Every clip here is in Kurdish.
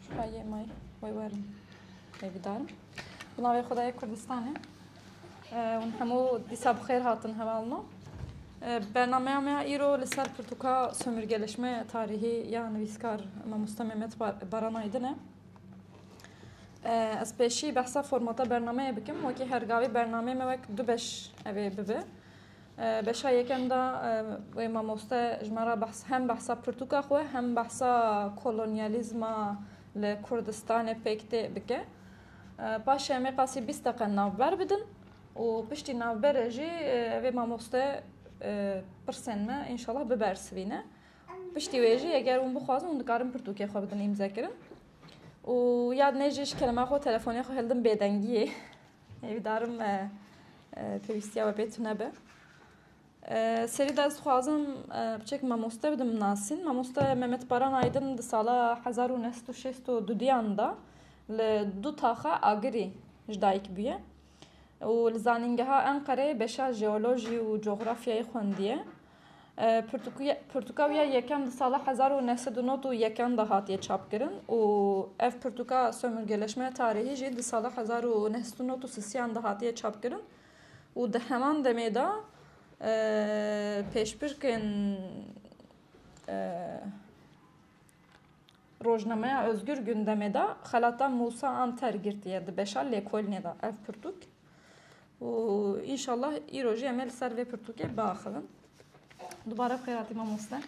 Şifayê may wê werin wê bidarim. Bi navê Xudayê Kurdistanê hûn hemû dîsa bi xêr hatin heval min. Bernameya me îro li ser pirtûka sömürgeleşme tarîhî ya nivîskar Mamosta Mehmet Baranayê din e. Ez pêşî behsa formata bernameyê bikim wekî her gavê bernameyê me wek du beş ev ê bibe. Beşa yekem de wê mamoste ji me re hem behsa pirtûka xwe hem behsa kolonyalîzma li Kurdistanê pêk tê bike. Paşê em ê qasî bîst deqe navber bidin û piştî navberê jî vê mamoste pirsên me înşallah bibersivîne. Piştî wê jî eger hûn bixwazin hûn dikarin pirtûkê xwe bidin îmzekirin. û yad nêjî ji kelema xwe telefonê xwe hildim bêdengiyê. Hêvîdarim me pêwîstiya we pê tune be. Serî de ez dixwazim biçek mamoste bidim nasîn. Mamoste Mehmet Baran Aydin di sala 1962 diyan da li du taxa Agirî ji dayik bûye û li zanîngeha Enqereyê beşa jeolojî û cografyayê xwendiye. Pirtûka wî ya yekem di sala hezar û neh sed û nod û yekan de hatiye çapkirin û ev pirtûka Sömürgeleşme tarîhî jî di sala hezar û neh sed û nod û sisiyan de hatiye çapkirin û di heman demê de pêşbirkên Rojnameya Ozgur Gundemê de xelata Mûsa Anter girtiye di beşa lêkolînê de ev pirtûk. û înşallah îro jî em ê li ser vê pirtûkê biaxivin. Dubare bi xêr hatî mamoste.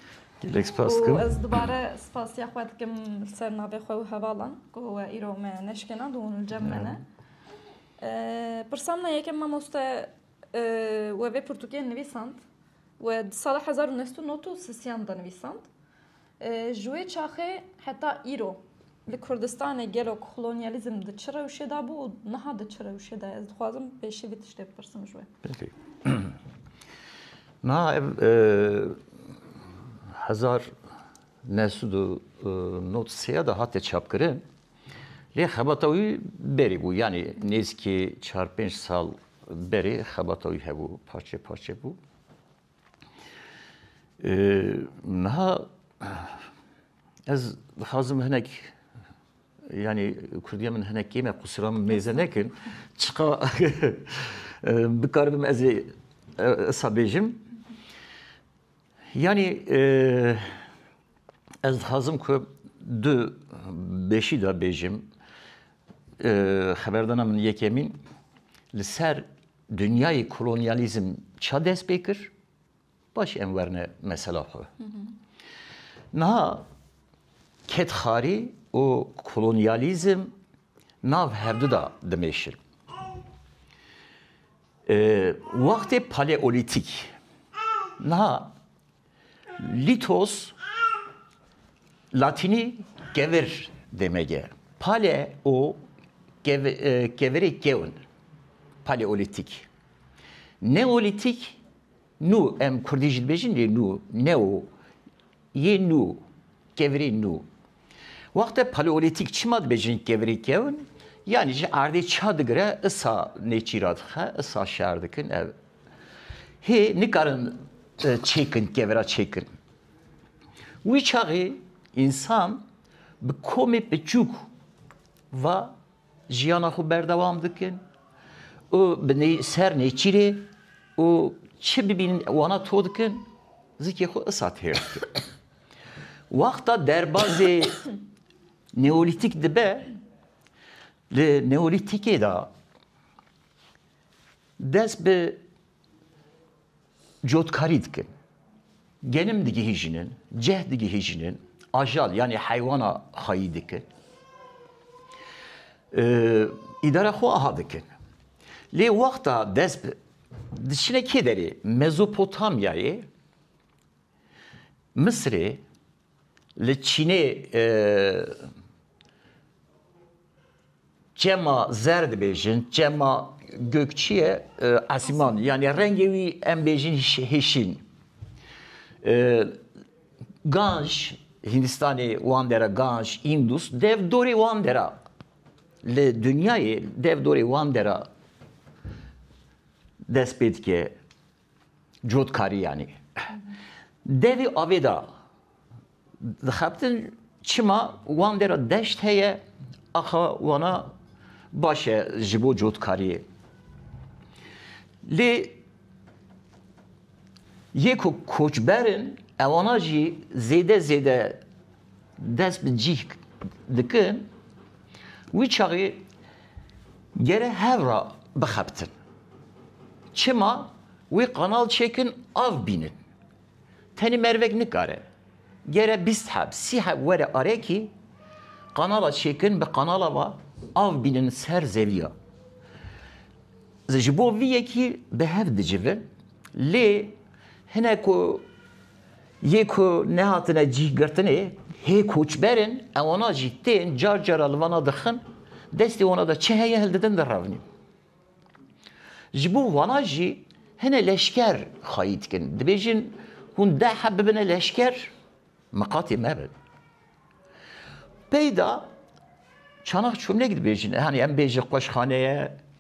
Gelek spas dikim. Ez dubare spasiya xwe dikim li ser navê xwe û hevalan ku we îro me neşkênand û hûn li cem me ne. Pirsa min e yekem mamoste we vê pirtûkê nivîsand we di sala hezar û neh sed û nod û sisiyan de nivîsand. Ji wê çaxê heta îro li Kurdistanê gelo kolonyalîzm di çi rewşê de bû û niha di çi rewşê de ye? Ez dixwazim pêşî vî tiştê bipirsim ji wê. Belê. Niha ev hezar neh sed û nod sê de hate çapkirin. Lê xebata wî berî bû. Yanî nêzîkî çar pênc sal berê xebata wî hebû. Parçe parçe bû. Niha ez dixwazim hinek yani Kurdiya min hinek kême qusura min mêze nekin. Çiqa bikaribim ez ê esa bêjim. Yani ez dixwazim ku du beşî de bêjim xeberdana min yekemîn li ser Dinyayê kolonyalizm ça dest pê kir? Baş em werne mesela xwe. Niha kedxarî û kolonyalizm nav hevdu da dimeşin. Wextê paleolîtîk. Niha Lîtos, latînî kevir demege. Pale û kevirê kewn, paleolîtîk. Neolîtîk, nû, em kurdî jî dibêjin lê nû, neo, yê nû, kevirê nû. Wexte paleolîtîk çima dibêjin kevirê kewn, yanî ji erdê ça digire, isa nêçîra dixe, isa şer dikin, ev Hê nikarin çêkin kevera çêkin. Wî çaxê însan bi komê piçûk va jiyana xwe berdewam dikin û bi nê ser nêçîrê û çi bibînin wana to dikin zikê xwe isa têr dikin. Wexta derbazê neolîtîk dibe li neolîtîkê da Dest bi cotkarî dikin. Genim digihîjinin, ceh digihîjinin, ajal yanî heywana xweyî dikin. Îdara xwe aha dikin. Lê wexta dest bi diçine kê derê? Mezopotamyayê, Misirê, Li Çînê çema zer dibêjin, çema gökçî ye, esîman yanî rengê wî em bêjin hişîn. Ganj, Hîndistanê wan dera Ganj, Îndus dev dorê wan dera li dinyayê dev dorê wan dera dest pê dike. Cotkarî yanî devî avê de dixebtin çima wan dê re deşt heye axa wana baş e ji bo cotkariyê. Lê yê ku koçberin ewana jî zêde zêde dest bi cih dikin wî çaxê gere hev ra bixebtin. Çima wê qanal çêkin av bînin. Tenê mervek nikare. Gere bîst heb, sî heb were arekî qanala çêkin bi qanala va av bînin ser zevîya. Ji bo vî yekî bi hev dicivin lê hine ku Yê ku nehatine cîhgirtinê hê koçber in, ewana jî tên car cara li vana dirxin, destê wana de çi heye hildidin direvnîn. Ji bo vana jî hine leşker xayî dikin. Dibêjin hûn deh heb bibine leşker, miqatê me bin. Peyda çanak çûmlêk dibêjin, hanî em bêjin qoşxaneye,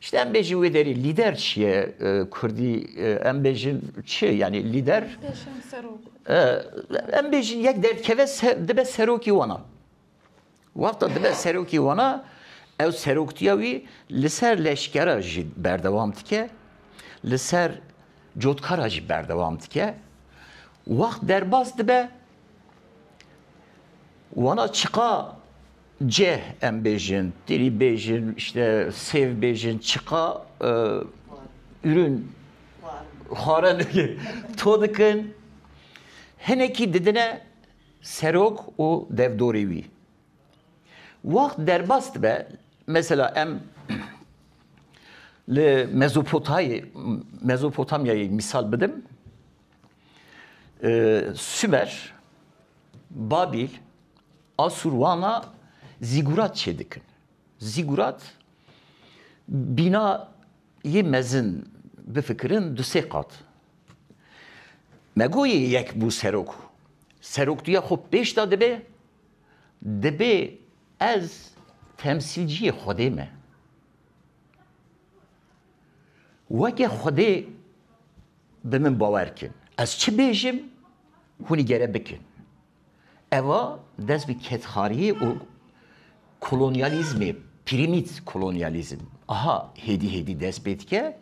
Şitî em bêjin wê derî lîder çi ye kurdî em bêjin çi yanî lîder em bêjin yek derdkeve dibe serokî wana. Wexta dibe serokî wana ew seroktiya wî li ser leşkera jî berdewam dike li ser cotkara jî berdewam dike wext derbas dibe wana çiqa Ceh em bêjin, tirî bêjin, işte sêv bêjin, çiqa ürün xwarin to dikin. Hinekî didine serok û devdorê wî. Wext derbas dibe, mesela em li Mezopotayê, Mezopotamyayê mîsal bidim, Sümer, Babîl, Asûr wana zîgurat çêdikin. Zîgurat bîna yê mezin bifikirin du sê qat. Me got yê yek bû serok. Serok duya xwe pêş de dibe, dibê ez temsîlciyê Xwedê me. Weke Xwedê bi min bawer kin. Ez çi bêjim, hûn îgere bikin. Eva dest bi kedxariyê û kolonyalîzmê, pirîmît kolonyalîzm, aha hêdî hêdî dest pê dike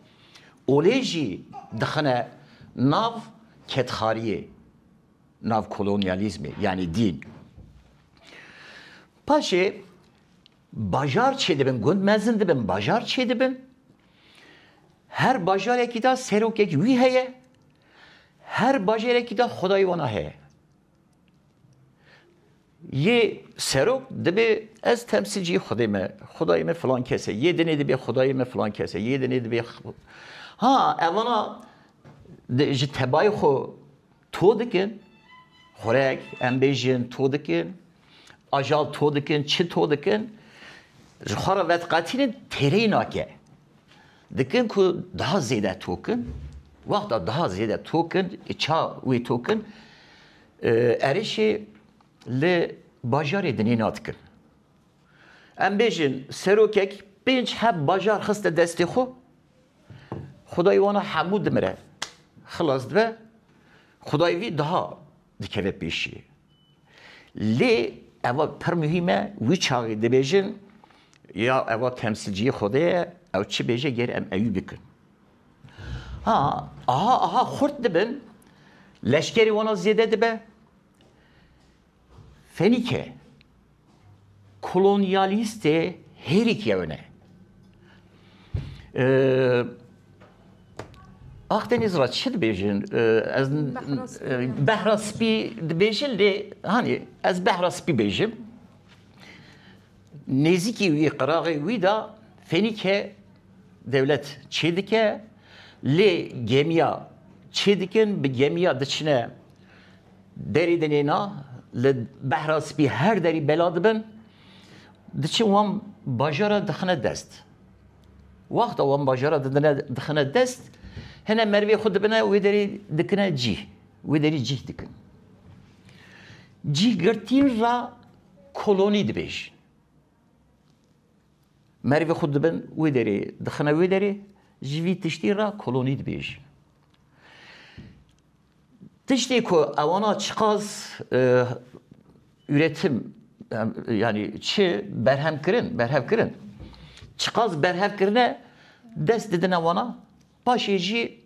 û lê jî dixine nav kedxariyê, nav kolonyalîzmê yanî dîn. Paşê Bajar çêdibin, gund mezin dibin, bajar çêdibin. Her bajarekî de serokek wî heye. Her bajarekî de xwedayê wan a heye. Yê serok dibê ez temsilciyê xwedê me, xwedayê me filan kes e, yê dinê dibê xwedayê me filan kes e, yê dinê dibê Ha evana ji tebayê xwe to dikin, xurek em bêjin to dikin, ajal to dikin, çi to dikin, ji xwe re vediqetînin têreyî nake. Dikin ku daha zêde tokin, wexta daha zêde tokin, ça wê tokin, erişê li bajarê dinê nadikin. Em bêjin serokek pênc heb bajar xiste destê xwe, Xudayê wan a hemû dimire, xilas dibe, Xudayê wî daha dikeve pêşî. Lê eva pir muhîm e, wî çaxê dibêjin, ya eva temsilciyê Xwedê ye, ew çi bêje gêr em eyû bikin. Ha, aha aha xurt dibin, leşkerê wan a zêde dibe, Fenîke kolonyalîstê hêrîkî ew ne. Akdeniz ra çi dibêjin ez behra spî dibêjin lê hanî ez behra spî bêjim nêzîkî wî qiraxê wî da fenîke dewlet çê dike lê gemiya çê dikin bi gemiya diçine Derî dinê na li behra spî her derî bela dibin, diçin wan bajara dixine dest. Wexta wan bajara didine dixine dest, hene merivê xwe dibine wê derî dikine cîh. Wê derî cîh dikin. Cîhgirtîn re kolonî dibêjin. Merivê xwe dibin wê derê dixine wê derê, ji vî tiştî re kolonî dibêjin. Tiştê ku ewana çiqas üretim yanî çi berhem kirin, berhev kirin. Çiqas berhev kirine dest didine wana, paşê jî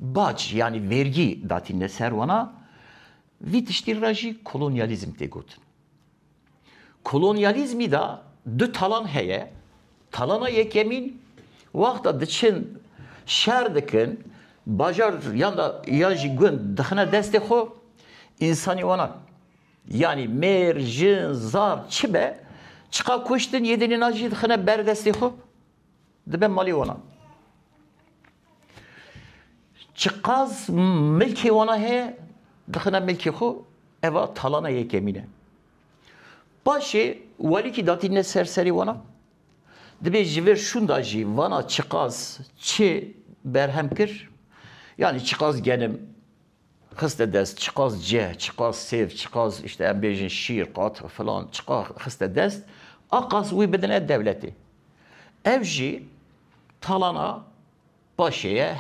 bac yanî vêrgî datîne ser wana. Vî tiştî re jî kolonyalîzm tê gotin. Kolonyalîzmî de du talan heye. Talana yekemîn wexta diçin şer dikin, bajar yan de yan jî gund dixine destê xwe, însanî wana yanî mêr, jin, zaf çi be çiqa kuştin yê dinê na jî dixine ber destê xwe. Dibe malê wana. Çiqas milkê wana heye dixine milkê xwe eva talana yekemîn e. Paşê welîkî datîne ser serê wana dibê ji vir şûnda jî vana çiqas çi berhem kir yanî çiqas genim Xiste dest çiqas ceh, çiqas sêv, çiqas îşte em bêjin şîr, qat, filan çiqa xiste dest a qas wî bidine dewletê. Ev jî talana paşê ye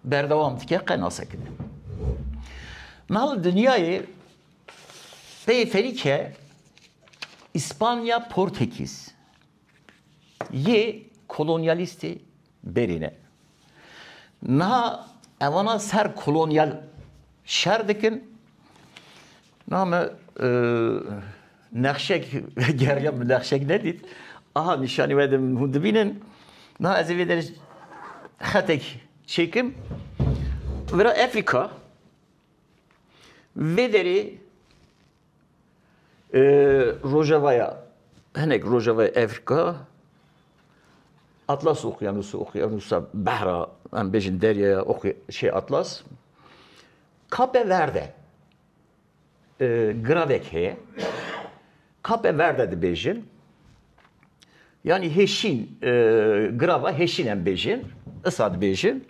berdewam dike qe nasekine. Nal dinyayê peyê ferîke Îspanya Portekîz. Yê kolonyalîstê berî ne. Niha evana ser kolonyal şer dikin. Niha me nexşek geriya min nexşek nedît. Aha nîşanî wede min hûn dibînin. Niha ez ê vê derê xetek çêkim. Vera Efrîka vê derê Rojavaya hinek Rojavaya Afrika Atlas Okyanusu Okyanusa Behra em bêjin deryaya şey Atlas Kape Verde giravek heye Kape Verde dibêjin Yanî hêşîn girava hêşîn em bêjin, isa dibêjin.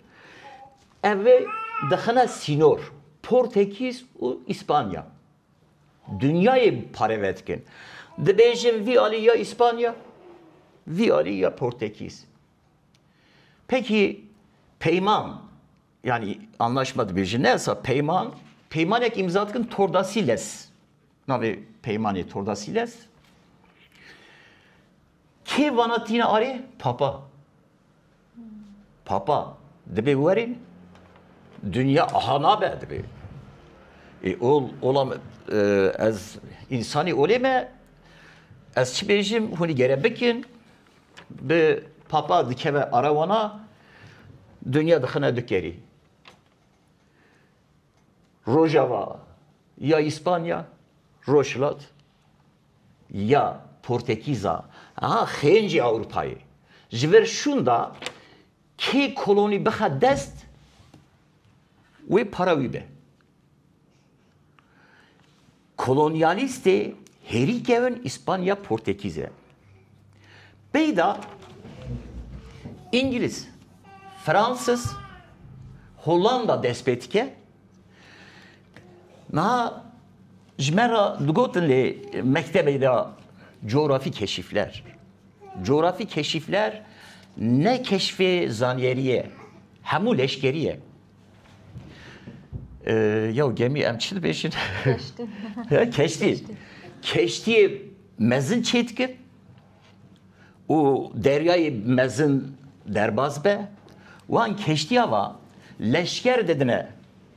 Ev ê dixine sînor Portekîz û Îspanya. Dinyayê pareve dikin. Dibêjin vî alî ya Îspanya, vî alî ya Portekîz. Pekî peyman yanî anlaşma dibêjin ne isa peyman, peymanek îmza dikin Tordasilles. Navê peymanê Tordasîles. Kê vana tîna arê? Papa. Papa dibê werê dünya aha nabe dibê. E ol olam e, ez insani olê me ez çi bêjim hûnî gere bikin bi papa dikeve arawana dünya dixine dikerî. Rojava Ya Îspanya, Rojhilat, ya Portekîza, a xêncê Ewropayê ji ber şûnda kê kolonî bixe dest wê para wî be. Kolonyalîstê hêrî kevin Îspanya Portekîze. Peyda Îngiliz, Fransiz, Hollanda dest pê dike Niha ji me re digotin lê mektebê de coğrafî keşîfler. Coğrafî keşîfler ne keşfê zaniyerî ye, hemû leşkerî ye. Yew gemî em çi dibêjin? Keştî. Keştîyê mezin çê dikir û deryayê mezin derbas be. Wan keştîya va leşker didine.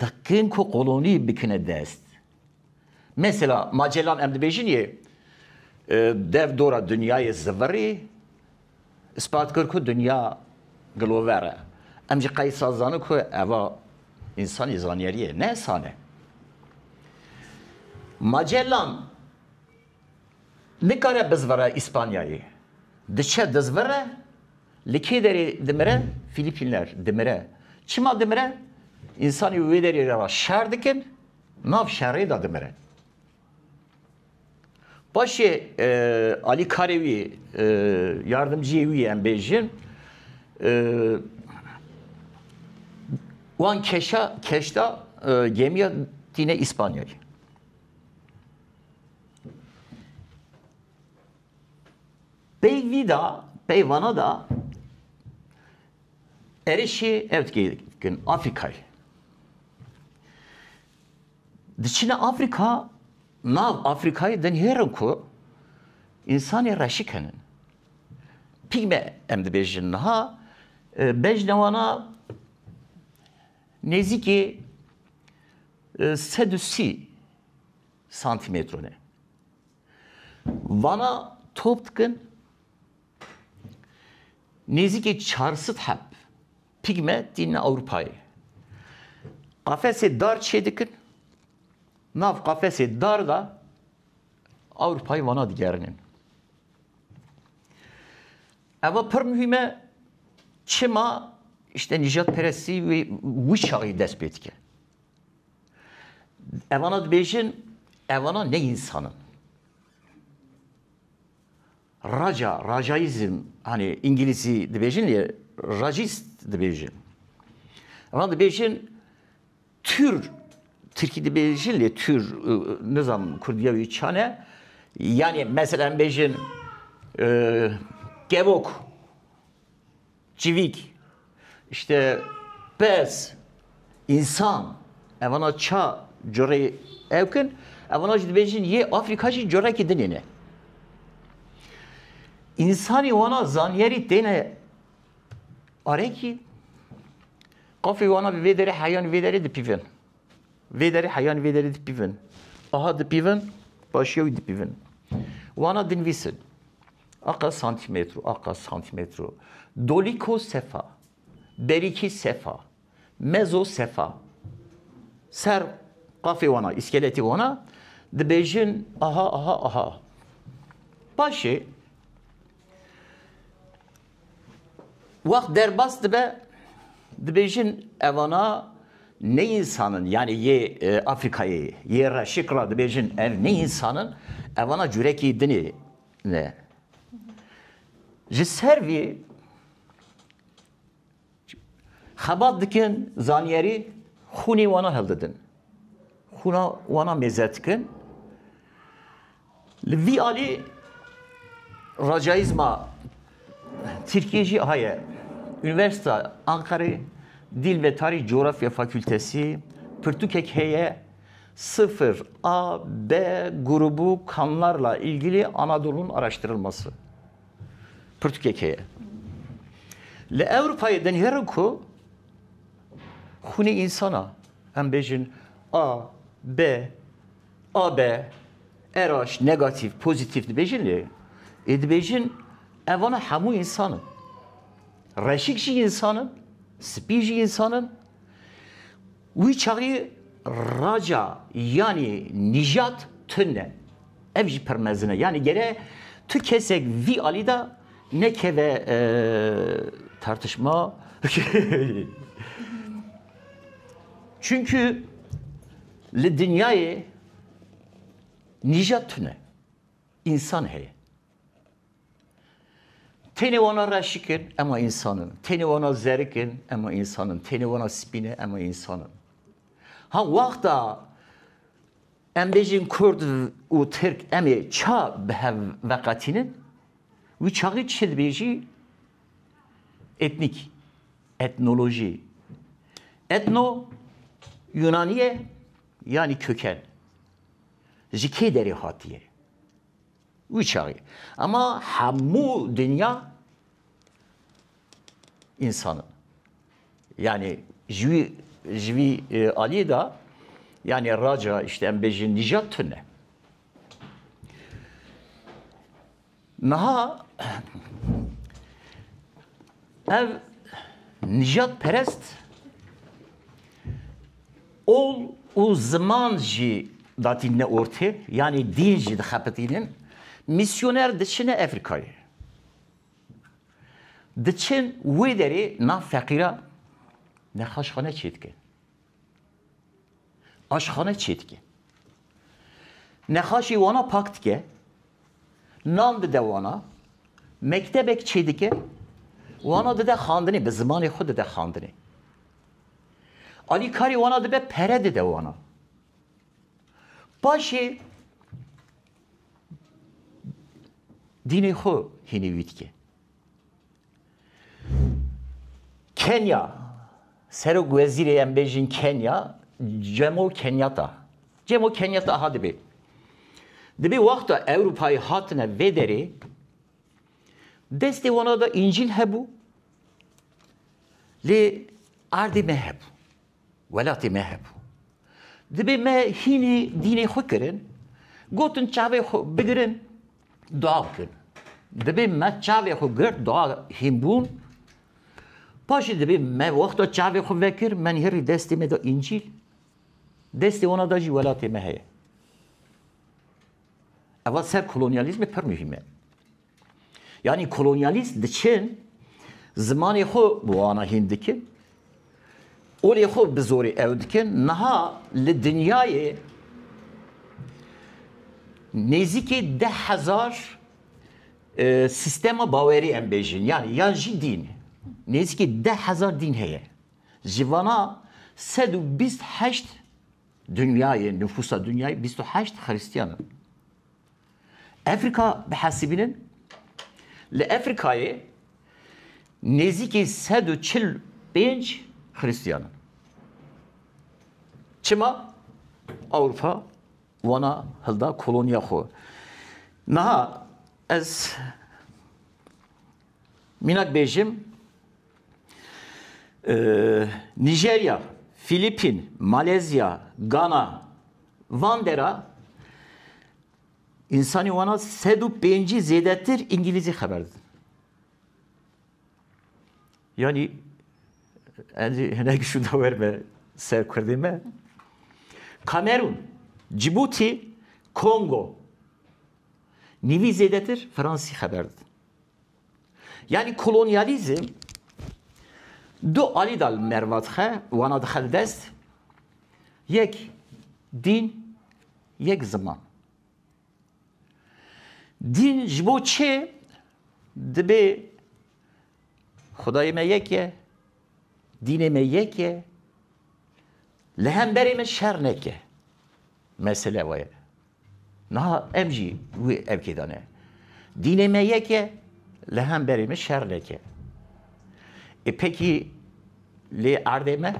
Dikin ku kolonî bikine dest. Mesela Magellan em dibêjin yê dev dora dinyayê zivirî îspat kir ku dinya gilover e. Em jî qey saz zanin ku eva însanî zanyerî ye, ne sane. Magellan Nikare bizvire Îspanyayê. Diçe dizvire, li kê derê dimire? Fîlîpînler, dimire. Çima dimire? Însanî wê derê re re şer dikin, nav şerê de dimire. Paşê alîkarê wî, yardimciyê wî em bêjin, wan keşa, keşta gêmiya tîne Îspanyayê. Pey vî da, pey vana da erişê ev dikê dikin Afrikayê. Diçine Afrika, nav Afrikayê dinhêrin ku însanê reşî kenin. Pîgme em dibêjin niha e, bejnewana nêzîkê e, sed û sî Santîmetro ne. Vana top dikin nêzîkê çar sed heb pîgme tîne Ewropayê. Qafesê dar çê dikin, nav qafesê dar de Ewropayê vana digerînin. Eva pir muhîm e çima îşte nîjadperestî wê wî çaxî dest pê dike. Evana dibêjin evana ne insan in. Raca, racaizm, hani İngilizî dibêjin lê racist dibêjin. Evana dibêjin tür, Tirkî dibêjin lê tür nizam Kurdiya wî çane. Yani mesela bêjin e, kevok Çivîk, işte pez, însan, evana ça curê ew kin, evana jî dibêjin yê Afrika jî curekî dinê ne. İnsanî wana zanyerî têne arekî, qafê wana bi vê derê heyanî vê derê dipîvin. Vê derê heyanî vê derê dipîvin. Aha dipîvin, başiya wî dipîvin. Wana dinvîsin. Aqa Santîmetro Aqa Santîmetro Dolîko Sefa Berîkî Sefa Mezo Sefa Ser qafê wan a, îskeletê wan a dibêjin aha aha aha Paşê wext derbas dibe dibêjin evana ne însan in yanî yê Afrîkayê yê reşik ra dibêjin ev ne însan in evana curekî din ê Ne. Ji ser vî xebat dikin zanyerî xûnê wana hildidin. Xûna wana mêzer dikin. Li vî alî racayîzma Tirkiye jî heye. Üniversita Ankarê Dil ve Tarîh Coğrafya Fakültesi pirtûkek heye Sıfır, A, B, grubu kanlarla ilgili Anadolu'nun araştırılması. Pürtükê keye. Li Ewropayê dinêrin ku xûnê însana, em bêjin A, B, AB, RH, negatif, pozitif dibêjin lê ê dibêjin evana hemû însan in. Reşik jî însan in, spî jî însan in. Wî çaxî raca yanî nîjat tund e. Ev jî pir mezin e. Yanî gere tu kesek vî alî de nekeve tartişma Çunku li dinyayê nîjat tune. Însan heye. Tenê wana reşik in, ema însan in. Tenê wana zerik in, ema însan in. Tenê wana spî ne, ema însan in. Ha wexta em bêjin Kurd û Tirk emê ça bi hev veqetînin, wî çaxî çi dibêjî? Etnîk, etnolojî. Etno Yunanî ye, yanî köken. ji kê derê hatiye? Wî çaxê. Ema hemû dinya însan in. Yanî ji wî ji vî aliyê de yanî raca îşte em bêjin nîjat tune. Niha ev nijat perest ol û ziman jî datîne ortê yanî dîn jî dixepitînin mîsyoner diçine Efrîkayê. Diçin wê derê nav feqîran nexweşxane çêdikin. Aşxane çê dike. Nexaşî wana pak dike. Nan dide wana. Mektebek çê dike. Wana dide xandinê. Bi zimanê xwe dide xandinê. Alîkarî wana dibe pere dide wana. Paşê dînê xwe hînî wî dike. Kenya, Serok Wezîrê em bêjin Kenya, Cemo Kenyata. Cemo Kenyata ha dibê. Dibê wexta Ewropayê hatine vê derê, destê wana da încîl hebû, lê erdê me hebû. Welatê me hebû. Dibê me hînî dînê xwe kirin, gotin çavê xwe bigirin dua bikin. Dibê me çavê xwe girt dua hîn bûn. Paşê dibê me wexta çavê xwe vekir, men herî destê me da Încîl. Destê wana da jî welatê me heye. Eva ser kolonyalîzmê pir muhîm e. Yanî kolonyalîst diçin zimanê xwe bi wana hîn dikin, olê xwe bi zorê ew dikin, niha li dinyayê nêzîkî deh hezar sîstema bawerî em bêjin yanî yan jî dîn nêzîkî deh hezar dîn heye. Ji vana sed û bîst heşt dinyayê nifûsa dinyayê bîst û heşt xirîstiyan in. Efrîka bihesibînin, li Efrîkayê nêzîkî sed û çil û pênc xirîstiyan in. Çima Ewropa wana hilda koloniya xwe? Niha ez Mînak bêjim Nîjerya, Fîlîpîn, Malezya, Gana van dera însanî wana sed û pêncî zêdetir îngîlîzî xeber didin. Yanî Encî hinek şû da wer me ser Kurdê me. Kamerûn, Cîbûtî, Kongo. Nîvî zêdetir Fransî xeber didin. Yanî kolonyalîzm du alî de li merva dixe, wana dixe li dest, yek dîn, yek ziman. Dîn ji bo çê dibê xudayê me yek e, dînê me yek e, li hemberê me şer neke. Mesele we ye. Niha em jî wê evkê de ne. Dînê me yek e, li hemberê min şer neke. Ê pekî lê erdê me,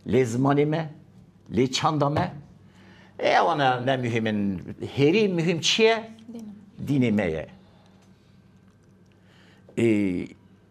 lê zimanê me, lê çanda me, ê ewana ne muhîm in. Hêrî muhîm çi ye? Dînê me ye. Ê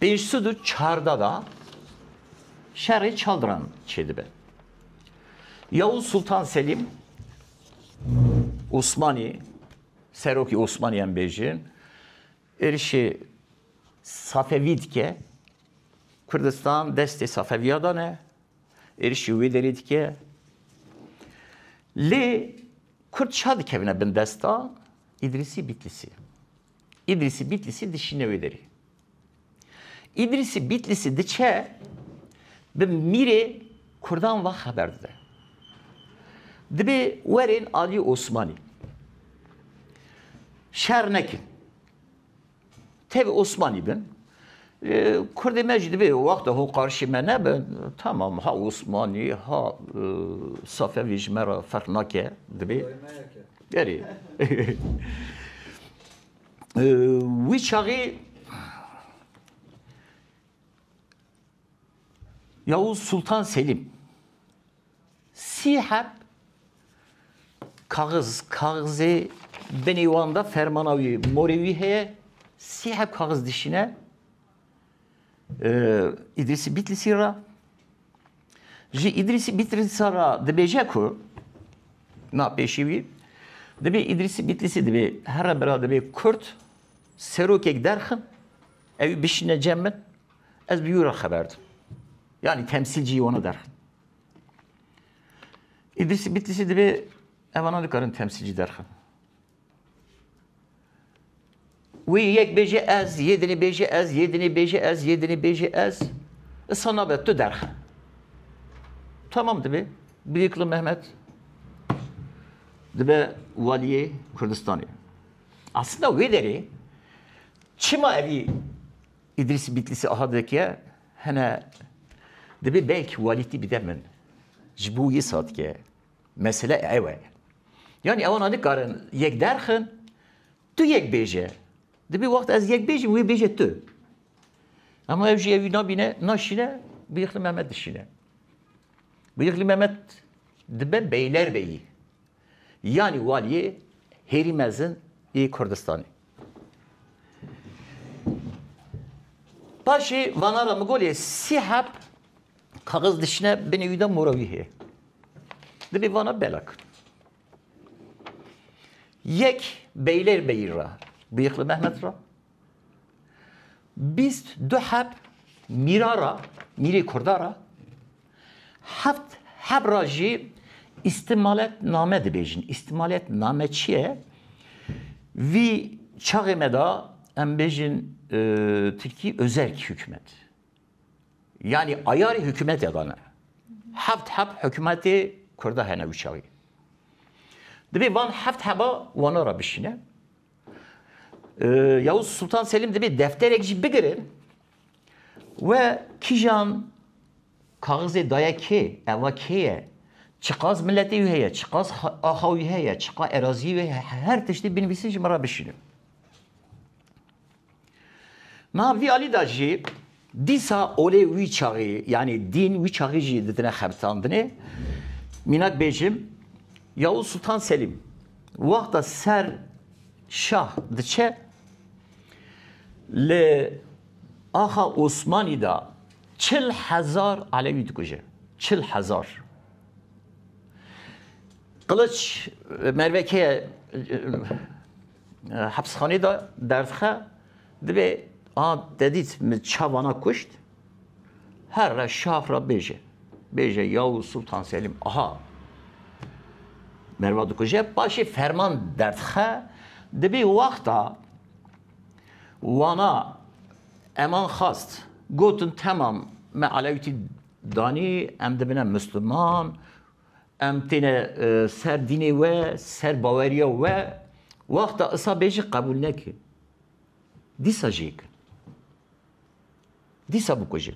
Pênc sed û çarda da şerê çaldiran çêdibe. Yavuz Sultan Selîm Osmanî serokî Osmanîyan bêjin êrişê Safevî dike Kurdistan destê Safevîya da ne êrişî wê derê dike lê Kurd ça dikevine bin desta Îdrîsî Bîtlîsî. Îdrîsî Bîtlîsî dişîne wê derî. Îdrîsî Bîtlîsî diçe bi mîrê kurdan ve xeber dide. Dibê werên aliyê Osmanî. Şer nekin. Tevê Osmanî bin. Kurdê me jî dibê wexta ho qarşî me nebin. Tamam ha Osmanî ha Safevî ji me re ferq nake dibê. Gerî. Wî çaxî Yavuz Sultan Selîm sî heb kaxiz, kaxizê binê wan de fermana wî, morê wî heye, sî heb kaxiz dişîne, Îdrîsî Bîtlîsî re ji Îdrîsî Bîtlîsa re dibêje ku na pêşî wî dibê Îdrîsî Bîtlîsî dibê here bira dibê Kurd serokek derxin ew bişîne cem min ez bi wî re xeber dim. Yani temsil cî wana derxin. Îdrîsî Bîtlîsî dibê evanan dikarin temsil cî derxin. Wî yek bêje ez, yê dinê bêje ez, yê dinê bêje ez, yê dinê bêje ez. Isa nabe tu derxe. Tamam dibe. Birîkli Mehmet dibe waliyê Kurdistanê. Aslında wê derê çima evî İdris Bitlis'i aha dikiye hene dibe belki walîtî bide min. Ji bo yê satkeye. Mesele ew e. Yanî ewan nadikarin yek derxin, tu yek bêje. Dibê wext ez yek bêjim wê bêje tu. Ama ew jî ew nabîne, naşîne, bîyixli Mehmet dişîne. Bîyixli Mehmet dibe beylerbeyî. Yanî waliyê hêrî mezin ê Kurdistanê. Paşê vanara min golê sî heb Kaxiz dişine binê wî de mora wî heye. Divê vana bela kir. Yek beylêr beyîr ra, bîyixli Mehmet ra. Bîst du heb mîra ra, mîrê kurda ra. Heft heb ra jî îstimalet name dibêjin. Îstimalet name çi ye? Vî çaxê me da em bêjin e, Tirkî özerk hikûmet. Yanî ayarê hikûmetê de ne. Heft heb hikûmetê Kurda hene û çaxê. Dibê van heft heba wana re bişîne. Yavuz Sultan Selim dibê defterek jî bigirin we kîjan kaxizê daye kê, eva kê ye, çiqas miletê wî heye, çiqas axa wî heye, çiqa eraziyê wê heye, her tiştê binivîsin ji min re bişînin. Niha vî alî de jî dîsa olê wî çaxî yanî dîn wî çaxî jî didine xebisandinê. Mînak bêjim Yavuz Sultan Selîm wexta ser şah diçe li axa Osmanî de çil hezar Elewî dikuje. Çil hezar. Qiliç mervekeye Hepsxaneyê de derdixe dibê a dedît min çavana kuşt her re şax re bêje. Bêje yaw Sultan Selîm aha merva dikuje paşê ferman derdixe dibê wexta wana eman xast gotin temam me alewîtî danî em dibine misliman Em têne ser dînê we, ser baweriya we, wexta isa bê jî qebûl neke. Dîsa jî yê kin. Dîsa bikuje.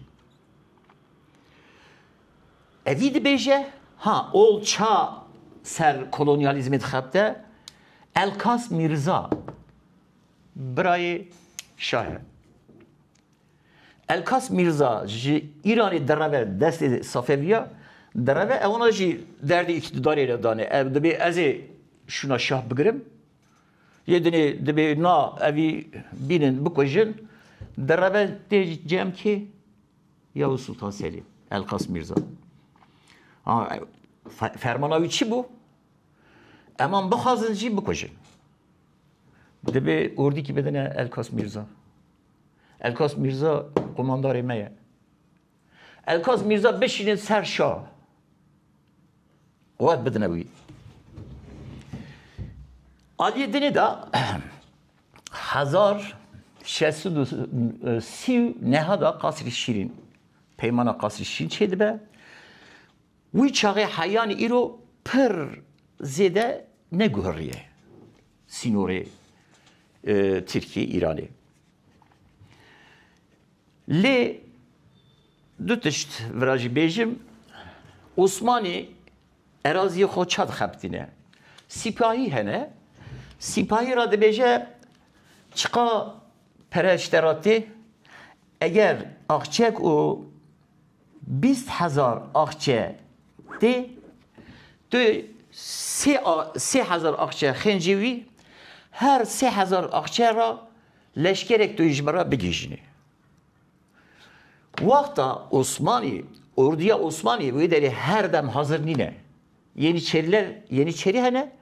Evî dibêje, ha ol ça ser kolonyalîzmê dixebite, Elkas Mîrza, birayê şahe. Elkas Mîrza ji Îranê dereve destê Safeviya dereve ewna jî derdê îktîdarê re dane. Ev dibê ez ê şûna şah bigirim. Yê dinê dibê na evî bînin bikujin. Dereve tê cem kê? Yavuz Sultan Selîm, Elkas Mîrza. Ha, fermana wî çi bû? Eman bixwazin jî bikujin. Dibê ordîkî bidine Elkas Mîrza. Elkas Mîrza qomandarê me ye. Elkas Mîrza bişînin ser şa. Quwet bidine wî. Aliyê dinê de hezar şesu sî neha da qasrî şîrîn. Peymana qasrî şîrîn çê dibe. Wî çaxê heyan îro pir zêde neguhirîye sînorê Tirkîyê Îranê. Lê du tişt vira jî bêjim, Osmanê erazîyê xo ça dixebitîne? Sîpahî hene, sîpahî ra dibêje çiqa pere şte ra tê, eger axçek û Bîst hezar axçe tê, tu sê sê hezar axçe xêncî wî, her sê hezar axçe ra leşkerek tu ji min ra bigihîjinê. Wexta Osmanî, orduya Osmanî wê derê her dem hazir nîne. Yenîçeriler, yenîçerî hene,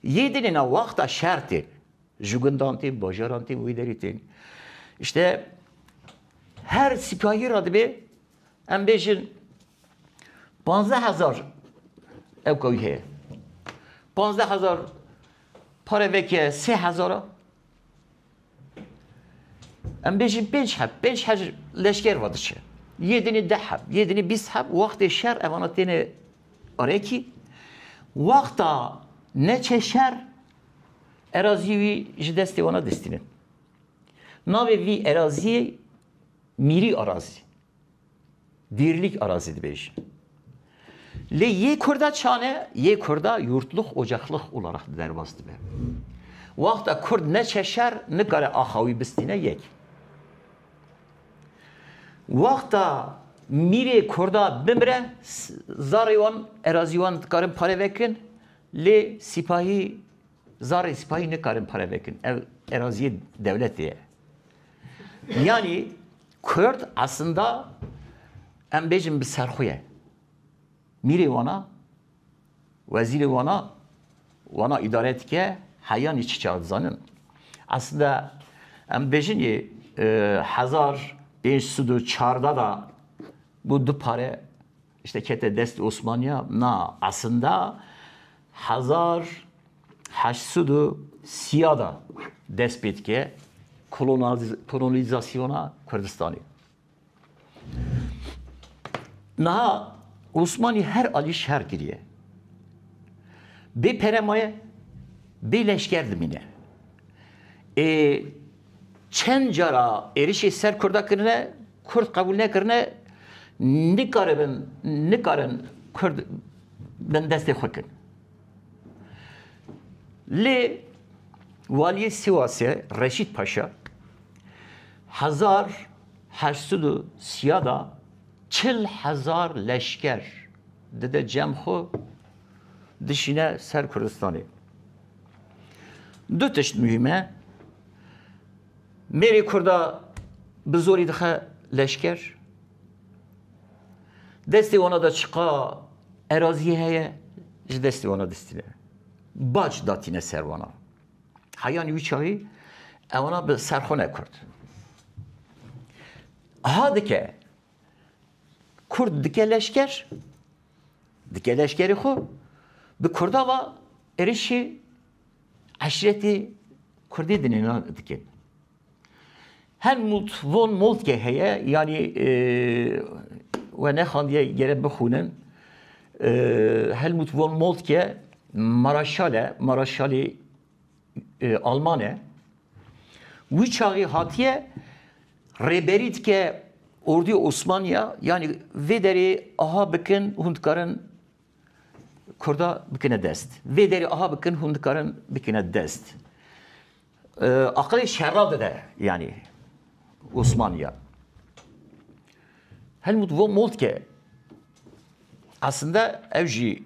yê dinê na wexta şertê. Ji gundan tên, bajaran tên, wê derê tên. İşte her sipayî ra dibê em bêjin panzdeh hezar ew kawî heye. Panzdeh hezar pare veke sê hezara em bêjin pênc heb, pênc her leşker va diçe. Yê dinê deh heb, yê dinê bîst heb, wextê şer evana têne arekî. Wexta neçe şer Erazî wî ji destê wan a destînin. Navê vî erazîyê Mîrî Arazî, Dîrlîk Arazî dibêjin. Lê yê kurda çan e, yê kurda yurtlux, ocexlux olarak di derbas dibe. Wexta kurd neçe şer, nikare axa wî bistîne yek. Wexta mîrê kurda bimire, zarê wan, erazî wan dikarin pare vekirin, Lê sîpahî, zarê sîpahî nikarin pare vekin. Ev eraziyê dewletê ye. Yanî Kurd eslinda em bêjin bi ser xwe ye. Mîrê wan a, wezîrê wan a, wan a îdare dike, heyanî çi çawa dizanin. Eslinda em bêjin yê hezar pênc sed û çardeh de bû du pare Tiştê kete dest Osmaniya na esinda hezar heşt sed û sîya de dest pê dike kolonîzasyona Kurdistanê. Niha Osmanî her alî şer kiriye. Bê pere maye, bê leşker dimîne. Ê çend cara êrişê ser Kurda kirine Kurd qebûl nekirine nikaribin nikarin Kurd bindestê xwe kin. Lê Waliyê Sîwasê Reşîd Paşa hezar heşt sed û sîya da çil hezar leşker dide cem xwe dişîne ser Kurdistanê. Du tişt muhîm e. Mêrê Kurda bi zorî dixe leşker. Destê wana de çiqa eraziyê heye ji destê wana distîne. Bac datîne ser wana. Heyanî wî çavî ewana bi serxwe nekurt. Ha dike Kurd dike leşker dike leşkerê xwe bi Kurda va êrişî Eşretî Kurdî di nêna dikin. Helmut von Moltke heye yanî e, we nexandiye gere bixûnin. E, Helmut von Moltke maraşal e, maraşalî e, alman e. Wî çaxî hatiye rêberî dike ordî Osmaniya yanî vê derê aha bikin hûn dikarin Kurda bikine dest. Vê derê aha bikin hûn dikarin bikine dest. Aqilê şerra dide yani Osmaniya. Helmut von Moltke aslında ev jî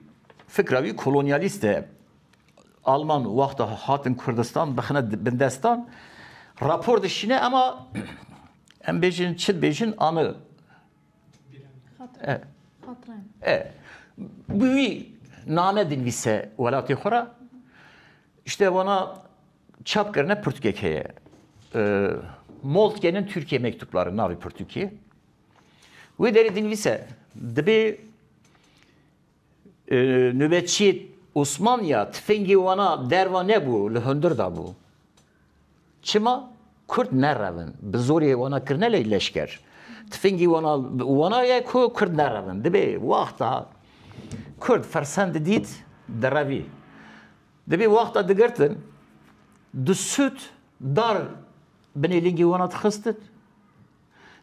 fikra wî kolonyalîst e. Alman wexta hatin Kurdistan bixine bindestan rapor dişîne ema em bêjin çi bêjin anı E, bi wî name dinivîse welatê xwe re, îşte wana çap kirine pirtûkek heye. Mol dikenin Tirkiyê mektûplar in navê pirtûkê. Wê derê dinivîse dibê Nobetçî Osman ya tifingî wana derva nebû li hundir da bû. Çima? Kurd ne rev in. Bi zorê wana kirine lê leşker. Tifingî wana wana ye ku kurd ne rev in. Dibê wexta kurd fersend dît direvî. Dibê wexta digirtin di sûd dar binê lingî wana dixistin.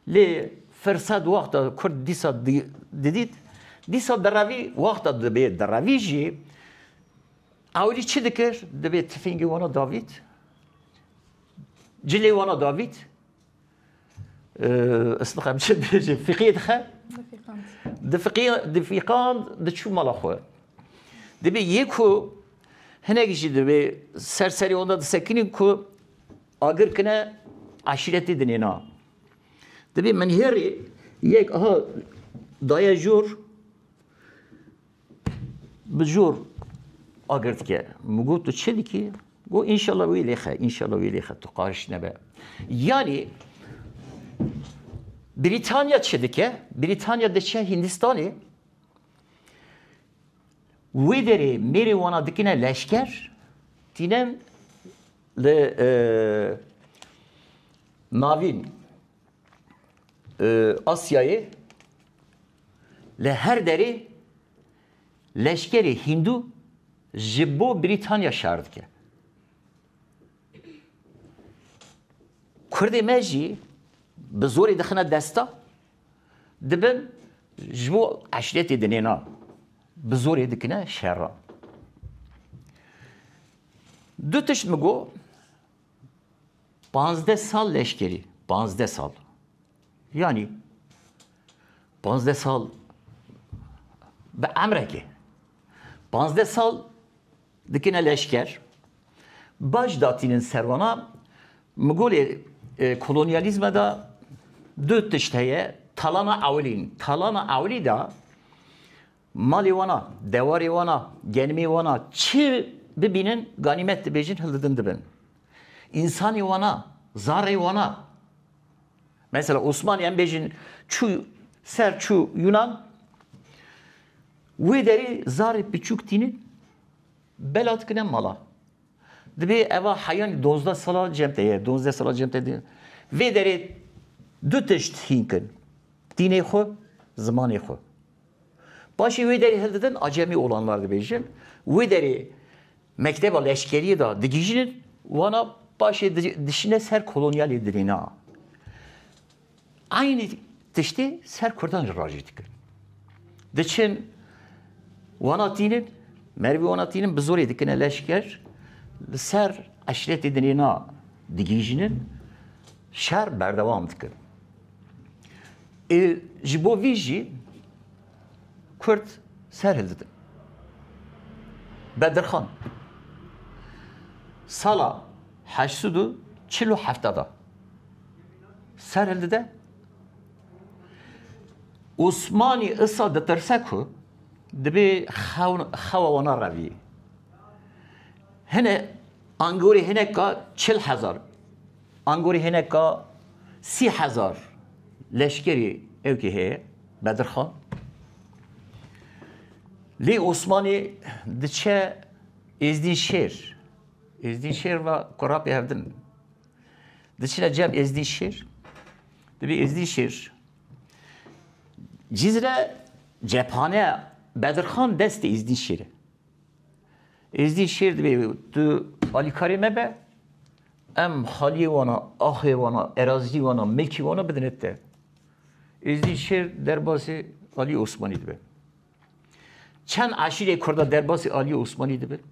Lê firsed wexta kurd dîsa didît, dîsa derevî, wexta dibê derevî jî ewilî çi dikir? Dibê tifingê wana davît, cilê wana davît, ez nixem çi dibêjim, fiqiyê dixe, difiqand, diçû mala xwe. Dibê yê ku hinek jî dibê ser serê wana disekinîn ku Agir kine eşîretî dinê na. Dibê menhêrê yek aha daye jor bi jor agir dike. Min got tu çi dikî? Got înşallah wî lêxe, înşallah wî lêxe tu qariş nebe. Yanî Brîtanya çi dike? Brîtanya diçe Hîndistanê Wê derê mêrê wana dikine leşker, tînen li navîn Asyayê li her derê leşkerê hîndû ji bo Brîtanya şer dike. Kurdê me jî bi zorê dixine desta. Dibin ji bo eşretê dinênan. Bi zorê dikine şeran. Du tişt min got, Panzdeh sal leşkerî, panzdeh sal. Yanî panzdeh sal bi emreke. Panzdeh sal Dikine leşker. Baş datînin ser wana. Mi got lê kolonyalîzme de du tişt heye. Talana ewilî. Talana ewilî de malê wan a, dewarê wan a, genimê wan a çi bibînin ganîmet dibêjin hildidin dibin. Însanê wan a, zarrê wan a. Mesela Osmanî em bêjin çû ser çû Yunan Wê derê zarê piçûk tîne bela dikine mala. Dibê eva heyanî donzdeh sala cem te ye, donzdeh sala cem te diye. Vê derê du tişt hîn kin. Dînê xwe, zimanê xwe. Paşê wê derê hildidin acemî olanlar dibêjin. Wê derê mekteba leşkeriyê de digihîjin wana paşê dişine ser kolonyalê dirêna. Eynî tiştî ser kurdan jî rajî dikin. Diçin wana tînin, merivî wana tînin bi zorê dikine leşker, li ser eşretê din ê na digihîjînin, şer berdewam dikin. Ê ji bo vî jî kurd ser hildidin. Bedirxan sala heşt sed û çil û hefte de. ser hildide. Osmanî issa ditirse ku dibê xewa wana revî. Hine angorê hineka çil hezar, angorê hineka sî hezar leşkerî ewkî heye Bedirxan. Lê Osmanî diçe Êzdînşêr. Êzdînşêr va kurapê hevdin. Di çile cem êzdî şêr. Dibî êzdî şêr. Cîzre cephaneya Bedirxan destê êzdî şêr e. Êzdî şêr dibê tu alîkarê me be em xaliyê wana, axê wana, erazî wana, milkî wana bidine te. Êzdî şêr derbasê Alî Osmanî dibe. Çend aşîrê Kurda derbasî Aliyê Osmanlî dibin?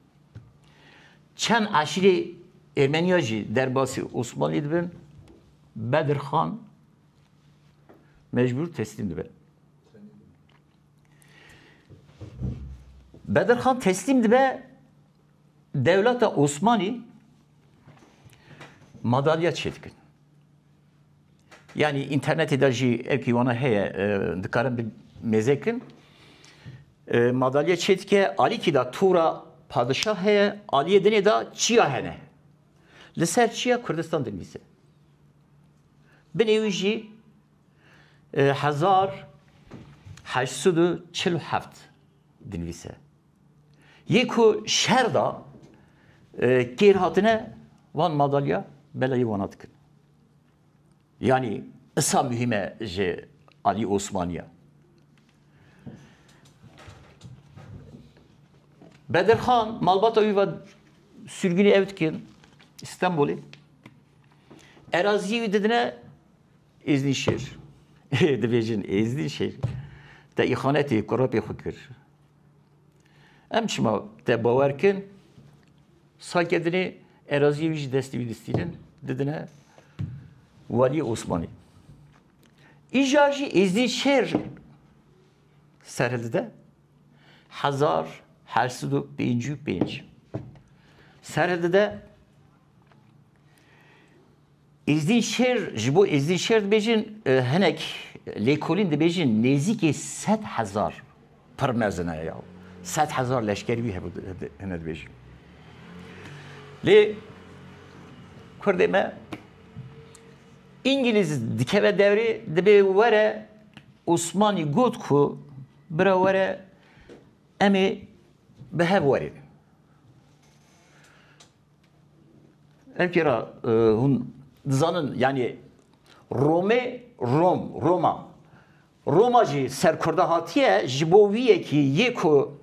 Çend aşîrê Ermeniya jî derbasî Osmanlî dibin? Bedir Xan mecbûr teslîm dibe. Bedir Xan teslîm dibe dewleta Osmanlî madalya çêdikin. Yanî înternetê de jî ev kîwana heye dikarin bi mêzekin. Madalya çê dike alîkî de tora padişah heye, aliyê dinê de çiya hene. Li ser çiya Kurdistan dinivîse. Binê wî jî hezar heşt sed û çil û heft dinivîse. Yê ku şer da kêr hatine van madalya belayê wana dikin. Yanî isa muhîm e ji alî Osmaniya. Bedirxan malbata wî ve sürgûnê ew dikin Stenbolê. Eraziyê wî didine Êznîşêr. Dibêjin Êznîşêr. Te îxanetê kurepê xwe kir. Em çima te bawer kin? Sake dinê eraziyê wî ji destê wî distînin, didine Waliyê Osmanî. Îja jî Êzidî şêr serhildide hezar her sid û pêncî û pênc. Serhildide Îzdîn Şêr, ji bo Îzdîn Şêr dibêjin, hinek lêkolîn dibêjin nêzîkî sed hezar pir mezin e ya. Sed hezar leşkerî wî hebû hine dibêjin. Lê Kurdê me Îngîlîz dikeve dewrê dibê were Osmanî got ku bira were em ê bi hev werîn. Evkera hûn dizanin yanî Romê Rom Roma Roma jî serkurda hatiye ji bo wî yekî yê ku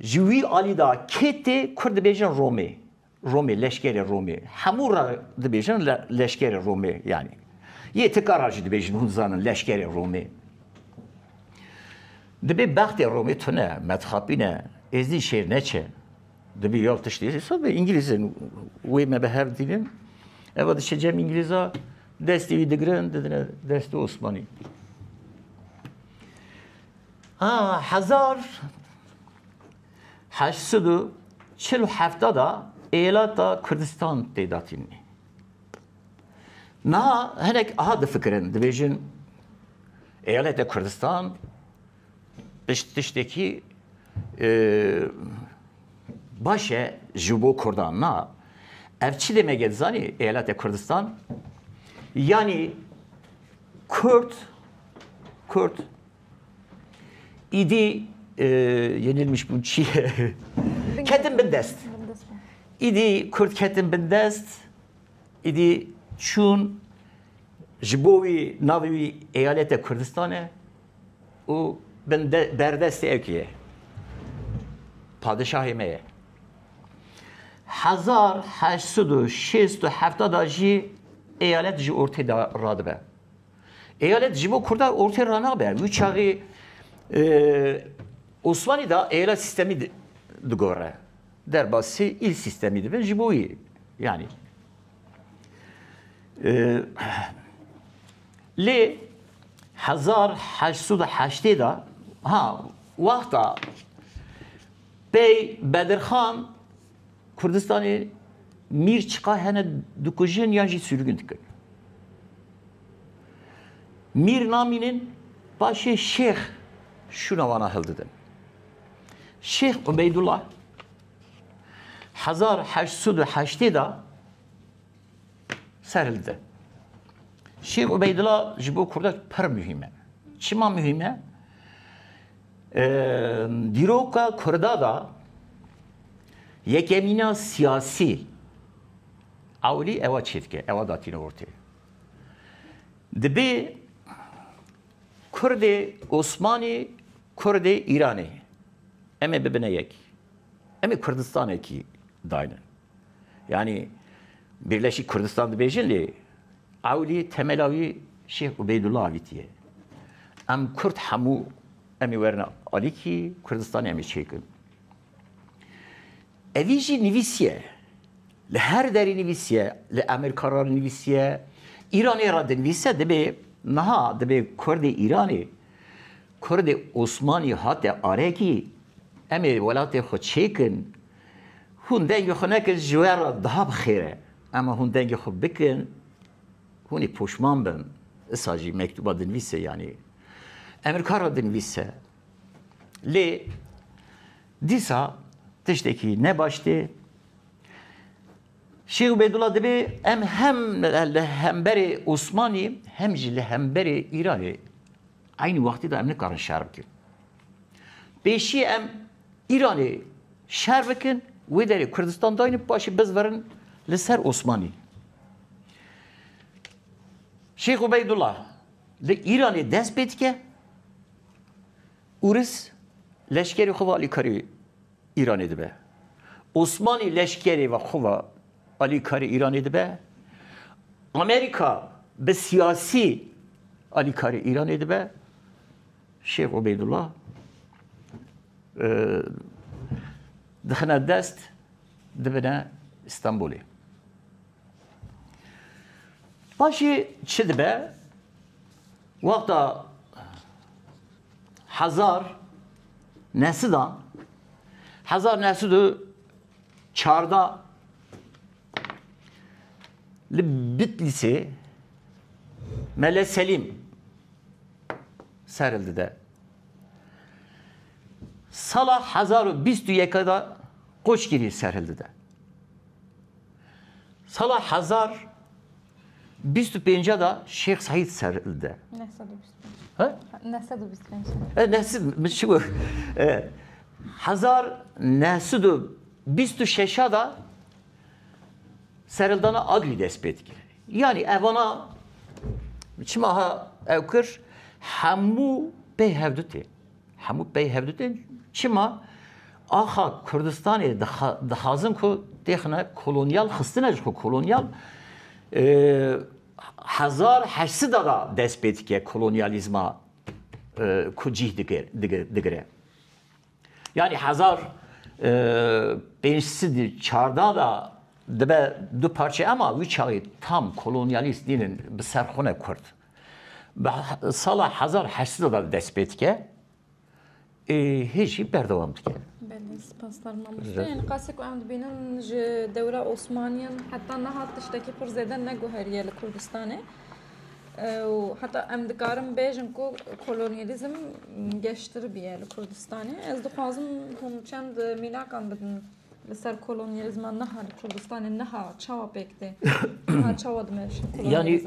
ji wî alî da kê tê kurd dibêjin Romê. Romê leşkerê Romê. Hemû re dibêjin leşkerê Romê yanî. Yê tika ra jî dibêjin hûn dizanin leşkerê Romê. Dibê bextê Romê tune, metxapîne, êzdî şêr neçe. Dibî ya tiştê sed îngîlîz in wê me bi hev dînin. Eva diçe cem îngîlîza destê wî digirin didine destê Osmanî. Ha hezar heşt sed û çil û hefta da êlata Kurdistan pêda tînî. Niha hinek aha difikirin dibêjin êlete Kurdistan Pişt tiştekî baş e ji bo Kurdan na. Ev çi demek e dizanî Eyaletê Kurdistan? Yanî Kurd Kurd îdî yenilmiş bûn çi ye? Ketin bin dest. İdi Kürt ketin bin dest, idi çun ji bo wî navê wî eyalete Kurdistanê û bin berdestê ew kî ye? Padişahê me ye. Hezar heşt sed û şêst û hefta da jî eyalet ji ortê de radibe. Eyalet ji bo Kurdan ortê ranabe. Wî çaxê Osmanî da eyalet sîstemî digore. Derbasî îl sîstemî dibin ji bo wî. Yanî Lê hezar heşt sed û heştê de ha wexta pey Bedirxan Kurdistanê mîr çiqa hene dikujin yan jî sürgûn dikin. Mîr namînin paşê şêx şûna wana hildidin. Şêx Ubeydullah Hezar heşt sed û heştê de serildi. Şêx Ubeydila ji bo Kurda pir muhîm e. Çima muhîm e? Dîroka Kurda da yekemîna siyasî ewlî ewa çêdike, ewa datîne ortê. Dibê Kurdê Osmanî, Kurdê Îranê. Em ê bibine yek. Em ê Kurdistanekî daynin. Yanî Birleşîk Kurdistan dibêjin lê ewlî temela wî Şêx Ubeydullah avîtî ye. Em Kurd hemû em ê werin alîkî, Kurdistanê em ê çêkin. Evî jî nivîsiye, li her derê nivîsiye, li Amerîka re nivîsiye, Îranê re dinivîse, dibê niha dibê kurdê Îranê, kurdê Osmanî hate arekî, em ê welatê xwe çêkin, hûn dengê xwe nekin ji we re daha bi xêr e, ema hûn dengê xwe bikin, hûn ê poşman bin, disa jî mektûba dinivîse yanî Amerîka re dinivîse. Lê. Dîsa tiştekî ne baş tê. Şêx Ubêdullah dibê em hem li hemberê Osmanî hem jî li hemberê Îranê eynî wextî de em nikarin şer bikin. Pêşî em Îranê şer bikin, wê derê Kurdistan daynin paşê bizverin li ser Osmanî. Şêx Ubêdullah li Îranê dest pê dike. Ûris leşkerê xwe ve alîkarî Îranê dibe. Osmanî leşkerê ve xwe ve alîkarî Îranê dibe. Amerîka bi siyasî alîkarî Îranê dibe. Şêx Ubeydullah dixine dest dibine Stenbolê. Paşê çi dibe? Wexta hezar nesidan hezar nesid û çarda li Bitlîsê Mele Selîm seril dide. Sala hezar û bîst û yeka da Qoçgirî seril dide. Sala hezar Bîst û pênc de Şêx Seîd serilde. Neh sed û bîst pênc. Ha? Neh sed û bîst pênc. E, neh sed min çi got? E, Hezar neh sed û bîst û şeş de serildana Agirî dest pê dikir. Yanî evana çima ha ew kir hemû pê hevdû tê. Hemû pey hevdu tên. Çima? Axa Kurdistanê dixazin ku têxine kolonyal xistine ji xwe kolonyal hezar heşt sida da dest pê dike kolonyalîzma ku cîh digire. Yanî hezar pênc sed û çarda da dibe du parçe ema wî çaxê tam kolonyalîst dînin bi ser xwe ne Kurd. Bi sala hezar heşt sed ve dest pê dike ê hê jî berdewam dike. Belê spas darma mustê. Ên qasê ku em dibînin ji dewra Osmaniyan heta niha tiştekî pir zêde neguheriye li Kurdistanê. û heta em dikarin bêjin ku kolonyalîzm geştir bûye li Kurdistanê. Ez dixwazim hûn çend mînakan bidin. Li ser kolonyalizma niha li Kurdistanê niha çawa pêk tê? Niha çawa dime Yani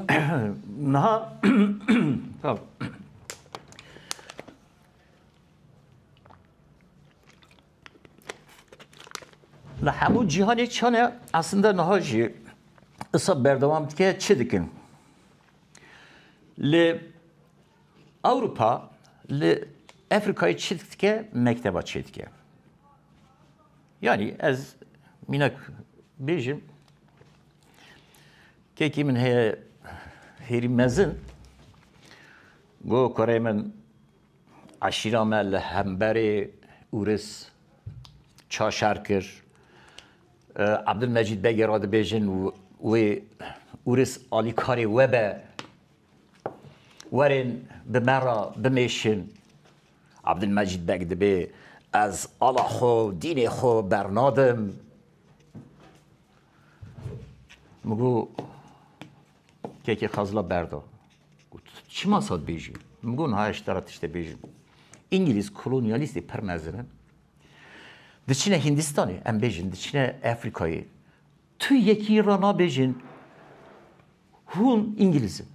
niha Li hemû cîhanê çane aslında niha jî isa berdewam dike çi dikin? Li Ewropa li Efrîkayê çi dike mekteba çê dike. Yanî ez mînak bêjim kekî min heye hêrî mezin go koreyê min eşîra me li hemberê Ûris ça şer kir. Abdulmecîd Begê re dibêjin wê Ûris alîkarê we be. Werên bi me re bimêşin. Abdulmecîd Beg dibê Ez ala xwe û dînê xwe bernadim. Min got Kekê Xezla berda. Got Çima sa dibêjî? Min got Niha ez te re tiştê bêjim. Îngilîz kolonyalîstê pir mezin in. Diçine Hîndistanê, em bêjin diçine Efrîkayê. Tu yekî re nabêjin hûn îngilîz in.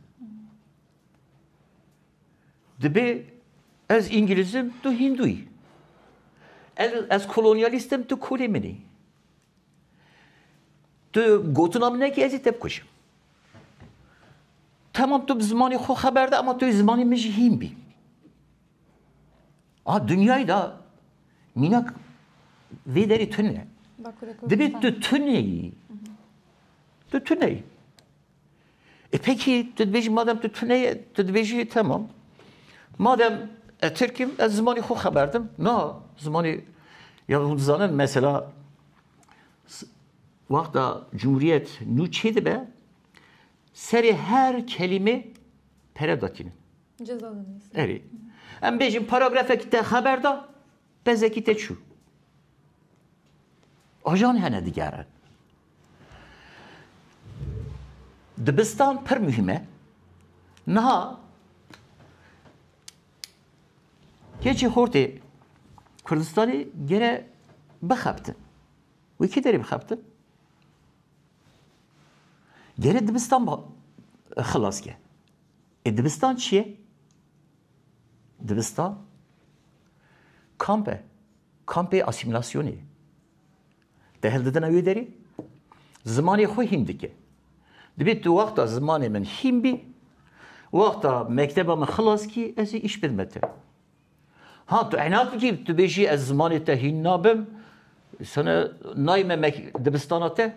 Dibê ez îngilîz im tu hîndû yî. Ez kolonyalîst im tu kolê min î. Tu gotina min nekî ez ê te bikujim. Tamam tu bi zimanê xwe xeber de ema tu yê zimanê min jî hîn bî. A dinyayê de mînak vê derê tu ne. Dibê tu tuneyî. Tu tuneyî. E peki tu dibêjî madem tu tuneyê tu dibêjî temam. Madem e Tirkim ez zimanê xwe xeberdim. Na zimanê ya hûn dizanin mesela wexta Cumhuriyet nû çê dibe serê her kelîmê pere datînin. Ceza da neyse. Erê. Em bêjin paragrafekî te xeber da, tezekî te çû. Ajan hene digere. Dibistan pir mühim e. Niha keçê hortê Kurdistanê gere bixebtin. Wê kê derê bixebtin? Gere dibistan xilas ke. Ê dibistan çi ye? Dibistan kamp e. Kampê asîmîlasyonê ye. Te hildidina wê derê zimanê xwe hîn dike. Dibê tu wexta zimanê min hîn bî, wexta mekteba min xilas kî ez ê îş bidim te. Ha tu inat bikî tu bêjî ez zimanê te hîn nabim, sana nayê me dibistana te.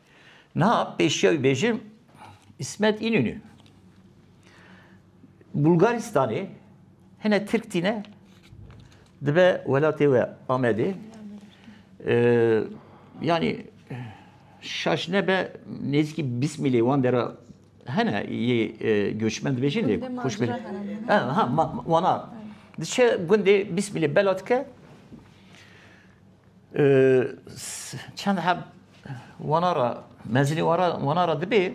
Na pêşiya wî bêjim İsmet İnönü Bulgaristanê hene Tirk tîne dibe welatê we Amedê yani şaş nebe nêzîkî bîst mîlê wan dera hene yê göçmen dibêjin lê xweş bê ha wana diçe gundê bîst mîlê bela dike Çend heb wana ra mezinê wana ra dibê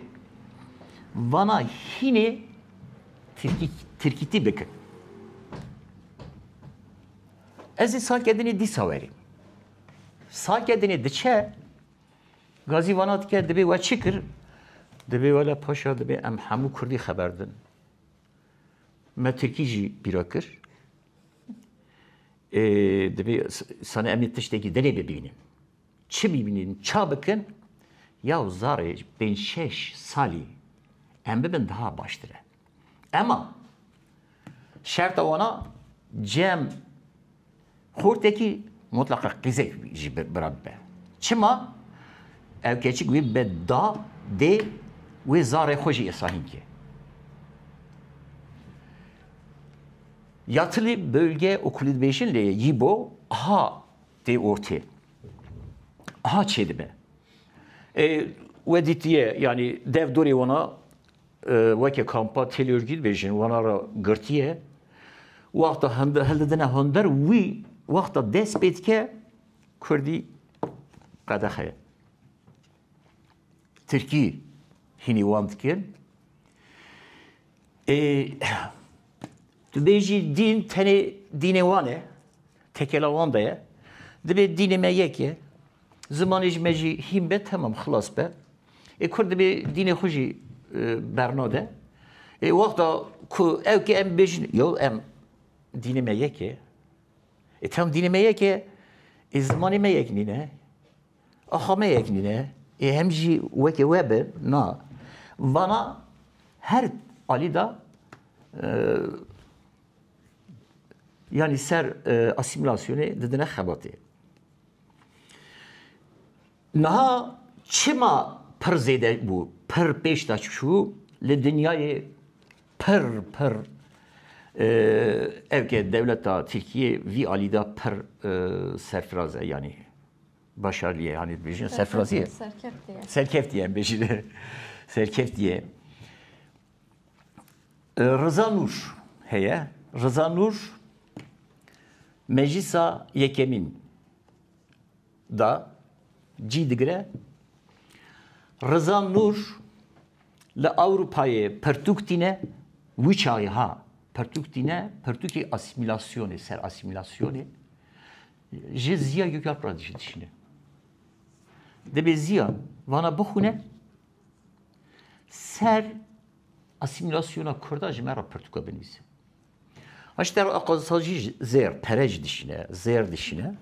vana hînê tirkîtî bikin. Ez ê sakedinê dîsa werî. Sakedinê diçe gazî vana dike dibê we çi kir? Dibê wele paşa dibê em hemû kurdî xeber din. Me tirkî jî bîra kir. Divê sana em ê tiştekî dilê bibînin. Çi bibînin, ça bikin? Ya zarê pênc şeş salî em bibin daha baştir e. Ema şerta wan a cem xortekî mutleqa qîzek jî bira bibe. Çima? Ew keçik wê bibe da, dê wê zarê xwe jî îsahîn ke. Ya tilî bölge û kulîdbêjin lê yî bo aha tê ortê. Aha çê dibe. Ê we dîtiye yanî dev dorê wana weke kampa têlorgî dibêjin wana ra girtiye. Wexta hildidine hundir wî wexta dest pê dike kurdî qedexe ye. Tirkî hînî wan dikin. Ê tu bêjî dîn tenê dînê wan e, tekela wan de ye. Dibê dînê me yek ye. Zimanê ji me jî hîn be temam xilas be. Ê Kurd dibê dînê xwe jî bernade. Ê wexta ku ew ki em bêjin yo em dînê me yek e. Ê tam dînê me yek e, ê zimanê me yek nîne. Axa me yek nîne, ê em jî wekî we bin, na. Vana her alî de yanî ser asîmîlasyonê didine xebatê. Niha çima pir zêde bû, pir pêş de çû li dinyayê Pir pir ev ke dewleta Tirkiyê vî alî da pir serfiraz e yanî başarliye yanî dibêjin serfiraziye. Serkeftiye. Serkeftiye em bêjin. Serkeftiye. Rıza Nur heye. Rıza Nur meclisa yekemin da cî digire. Riza Nûr li Ewropayê pertûk tîne, wî çaxê ha pertûk tîne, pertûkê asîmîlasyonê, ser asîmîlasyonê ji Ziya Gökalp re jî dişîne. Dibê Ziya vana bixwîne ser asîmîlasyona Kurda ji me re pertûka binivîse. Aşter Aqazisa jî zêr pere jî dişîne, zêr dişîne.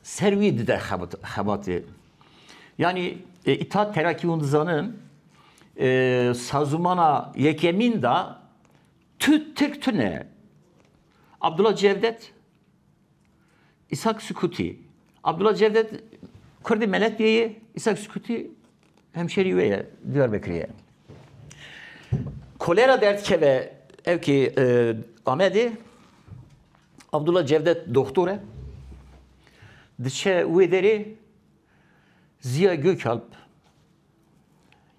Ser wî dide xebatê. Yanî îtat Terakî hûn dizanin sazûmana yekemîn da tu Tirk tune. Abdullah Cevdet Îshak Sukûtî, Abdullah Cevdet Kurdê Meletyê ye, Îshak Sukûtî hemşerî wê ye, Diyarbekirê ye. Kolera derdikeve ew kê e, Amedê, Abdullah Cevdet doktor e. Diçe wê derê Ziya Gökalp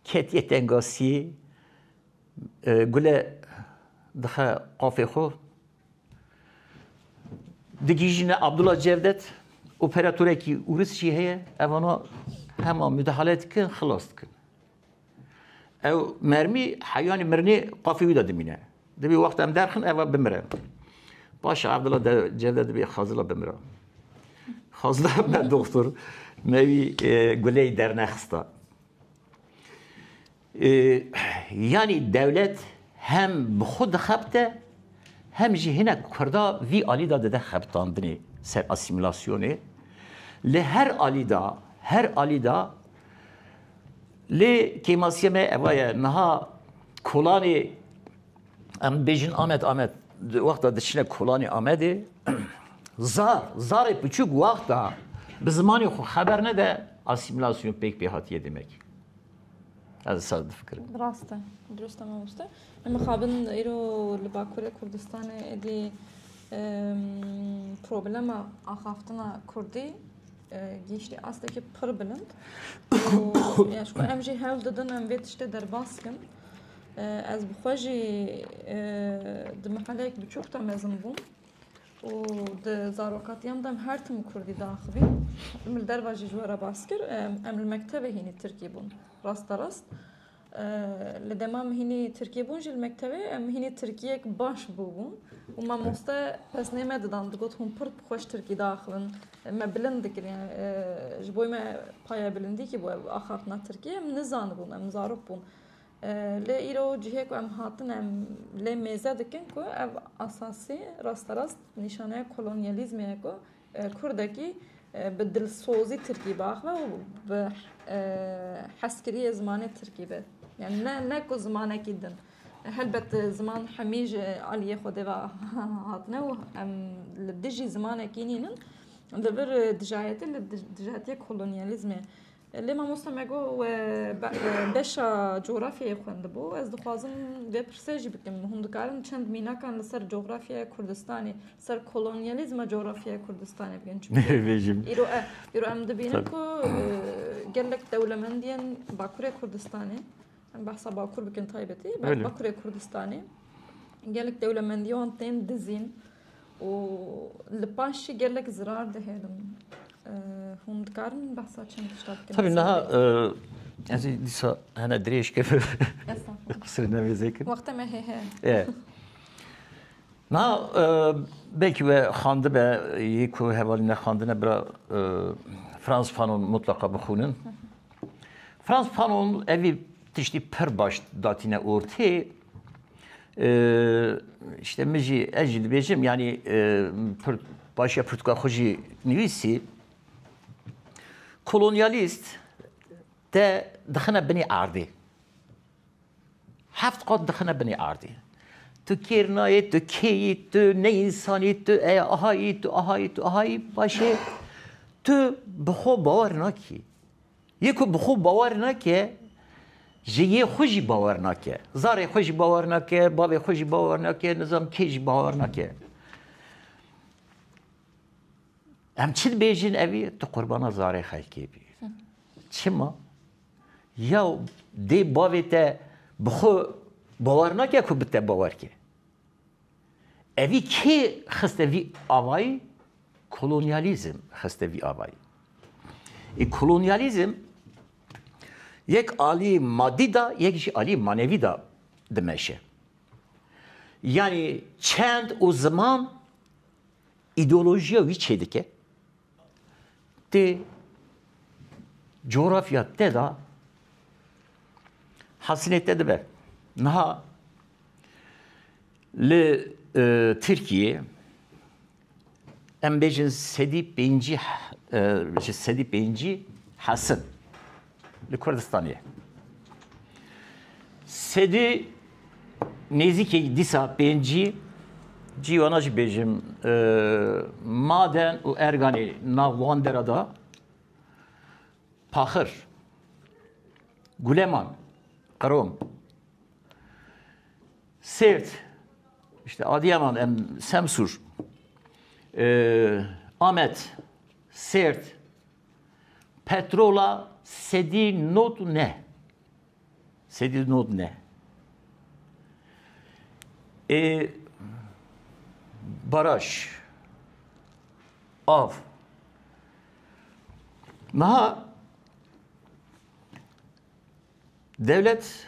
ketiye tengasiyê e, gule dixe qafê xwe Digihîjîne Abdullah Cevdet operatorekî ûris jî heye ev ana hema mudahale dikin xilas dikin. Ew mermî heyanî mirinê qafî wî de dimîne. Dibê wext em derxin eva bimire. Paşa Abdullah Cevdet dibê xazila bimire. Xazila me doktor me wî guleyî dernexista. Yanî dewlet hem bi xwe dixebite hem jî hinek kurda vî alî de dide xebitandinê ser asîmîlasyonê. Li her alî de, her alî de lê kêmasiya me eva ye niha kolanê em dibêjin Amed Amed di wexta diçine kolanê Amedê zar zarê piçûk wexta bi zimanê xwe xeber nede asîmîlasyon pêk pê hatiye demek. Ez sar difikirim. Rast e. Dirust e mamoste. Em mixabin îro li Bakurê Kurdistanê êdî problema axaftina Kurdî gîştî astekî pir bilind. Ya ji em jî hewl didin em vê tiştê derbas kin. Ez bi xwe jî di mihelek biçûk de mezin bûm. û di zarokatiyan de em her tim kurdî diaxivîn. Min li derve jî ji we re bas kir. Em li mektevê hînî tirkî bûn. Rasterast li dema min hînî tirkî bûn jî li mektevê em hînî tirkiyek baş bûbûn û mamoste pesnê me didan digot hûn pir xweş tirkî diaxivin me bilind dikirin yani ji bo me paya bilindî kî bû ev axaftina tirkiyê em nizanibûn em zarok bûn Lê îro cihê ku em hatin em lê mêze dikin ku ev asasî rasterast nîşaneya kolonyalîzmê ye ku kurdekî bi dilsozî tirkî biaxive û bi hezkirî yê zimanê tirkî be. Yani ne ne ku zimanekî din. Helbet ziman hemî ji aliyê Xwedê ve hatine û em li dijî zimanekî nînin li vir dijayetî li dijayetiyê kolonyalîzmê Lê mamosta me got we beşa coğrafyayê xwendibû. Ez dixwazim vê pirsê jî bikim. Hûn dikarin çend mînakan li ser coğrafyaya Kurdistanê, ser kolonyalîzma coğrafyaya Kurdistanê bikin. Çünkü îro e, îro em dibînin ku gelek dewlemendiyên Bakurê Kurdistanê, em behsa Bakur bikin taybetî, Bakurê Kurdistanê gelek dewlemendiyên wan tên dizîn. û li paş jî gelek zirar dihêlin. Hûn dikarin behsa çend tişta bikin? Tabii niha ez ê dîsa hene dirêj kir qisir nevêzê kir. Wexte me hê he. Niha belkî we xandibe yê ku hevalî nexandine bira Frans Fanon mutlaka bixûnin. Frans Fanon evî tiştî pir baş datîne ortê. İşte min jî ez jî dibêjim yanî başiya pirtûka xwe jî nivîsî. Kolonyalîst te dixine binî erdê. Heft qat dixine binî erdê. Tu kêrnayê, tu kêyî, tu ne însanî, tu eya ahayî, tu ahayî, tu ahayî başê tu bi xwe bawer nakî. Yê ku bi xwe bawer nake, ji yê xwe jî bawer nake. Zarê xwe jî bawer nake, bavê xwe jî bawer nake, nizanim kê jî bawer nake. Em çi dibêjin evî tu qurbana zarê xelkê bî. Çima? Ya dê bavê te bi xwe bawer nake ku bi te bawer ke. Evî kê xiste vî avayî? Kolonyalîzm xiste vî avayî. Î kolonyalîzm yek alî madî da yek jî alî manevî da dimeşe. Yanî çend û ziman îdeolojiya wî çêdike, Tê coğrafya te da hasilê te dibe. Niha li e, Tirkiye em bêjin sedî pêncî e, sedî pêncî hasin. Li Kurdistanê sedî nêzîkî dîsa pêncî cî wana jî bêjim maden û erganê nav wan dera da paxir guleman qrom sêrt işte adiyaman em semsûr amet sêrt Petrola sedî not û neh. Sedî not neh. Ê baraj av niha dewlet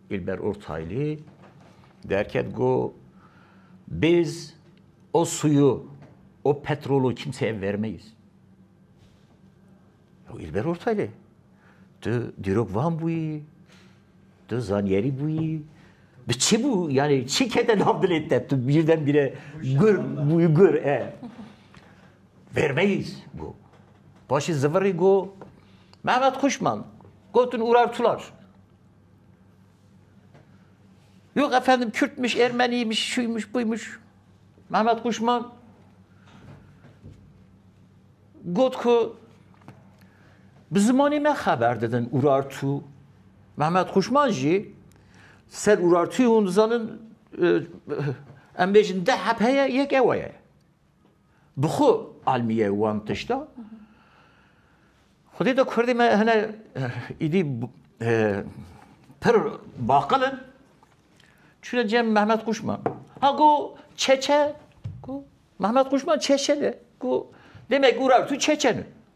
Îlber Ortayli derket got, Biz o suyu, o petrolu kimseye vermeyiz. Ya Îlber Ortayli, tu dîrok van bûyî, tu zanyerî bûyî, bi çi bû yani çi kete nav dilê te tu birdenbîre gur bûyî gur e. Vermeyiz go. Paşê zivirî go Mehmet Kuşman gotin Urar Tular. Yok efendim Kürtmüş, Ermeniymiş, şuymuş, buymuş. Mehmet Kuşman got ku bi zimanê me xeber didin Urartu. Mehmet Kuşman jî ser Urartu'yı hûn dizanin e, em bêjin de hep heye yek ewe ye. Bi xwe almîye wan tişta. Xwedê de Kurdê me hene îdî pir baqil in. Çûne cem Mehmet Kuşman. Ha go çeçe, go Mehmet Kuşman çeçe de. Go demek û ra tu çeçe ne.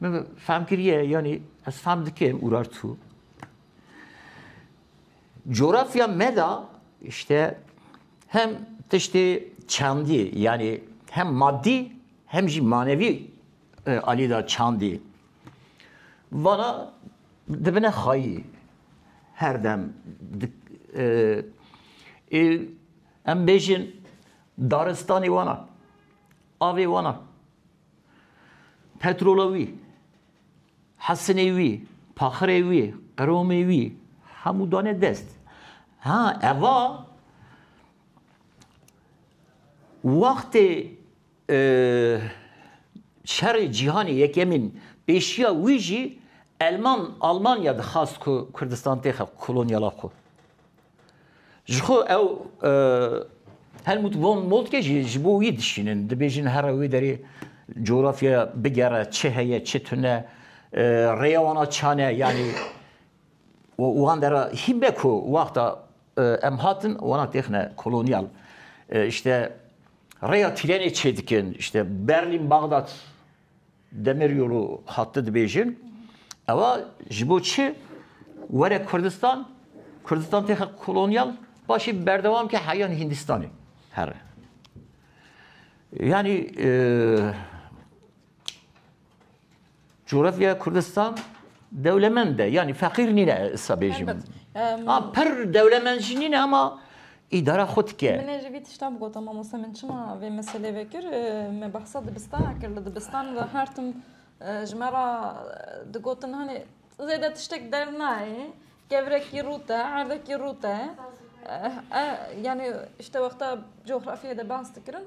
Min fehm kiriye yanî ez fehm dikim Urartu. Coğrafya me de işte hem tiştê çandî yani hem maddi hem jî manevî e, alî da çandî. Vana dibine xayî her dem e, e, em bêjin daristanê wana avê wana Petrola wî, hesinê wî, paxirê wî, qiromê wî hemû dane dest. Ha eva wextê e, şerê cîhanê yekemîn pêşiya wî jî Elman Almanya dixwast ku Kurdistan têxe kolonyala xwe. Ji xwe ew Helmut von Moltke jî ji bo wî dişînin. Dibêjin here wê derê coğrafyaya bigere çi heye çi tune rêya wana çane yanî wan dera hîbe ku waxta em hatin wana têxine kolonyal işte rêya tîrenê çêdikin işte Berlin Bagdat Demiryolu hate dibêjin ewa ji bo çi were Kurdistan, Kurdistan têxe kolonyal paşê berdewam ke heyan Hîndistanê here. Yanî coğrafya Kurdistan dewlemend e. Yanî feqîr nîne esa bêjim. Pir dewlemend jî nîne ama Îdara xwe dike. Min e ji vî tişta bigotin mamoste min çima vê meselê vekir me behsa dibistana kir li dibistan de her tim ji me ra digotin hanê zêde tiştek dernayê kevrekî rû te erdekî rû te yani işte wexta coxrafyê de behs dikirin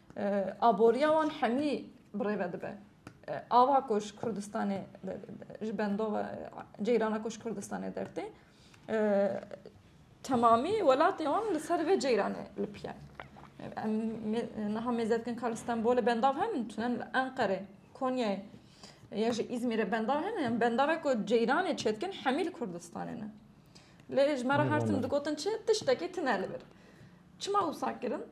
Aboriya wan hemî bi rê ve dibe. Ava ku ji Kurdistanê ji bendova ceyrana ku ji Kurdistanê dertê temamî welatê wan li ser vê ceyranê li piye. Em niha mêze dikin ka li Stenbolê bendav henin, tunen li Enqerê, Konyayê ya ji İzmir'e bendar hene yani bendara ku ceyranê çetkin hemî li Kurdistanê ne. Lê ji me re her tim digotin çi tiştekî tune li bir. Çima wisa kirin?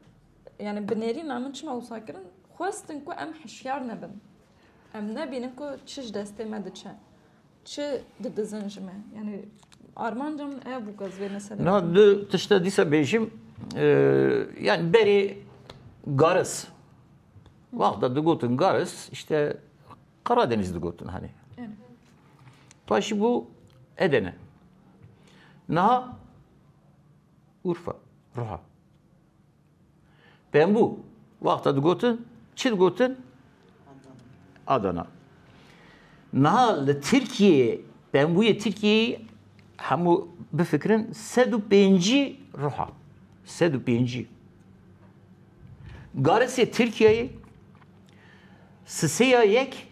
Yani bi nêrîna min çima wisa kirin? Xwestin ku em hişyar nebin. Em nebînin ku çi ji destê me diçe. Çi didizin ji me. Yani armanca min ev bû ez vê meselê. Na du tişte dîsa bêjim yani berê garis. Wexta digotin garis işte Karadeniz digotin hani. Paşi bu Edene. Naha Urfa, Ruha. Pembû wexta digotin çi digotin? Adana. Niha li Tirkiyeyê pembûyê Tirkiyeyê hemû bifikirin sed û pêncî ruha. Sed û pêncî. Garisê Tirkiyeyê siseya yek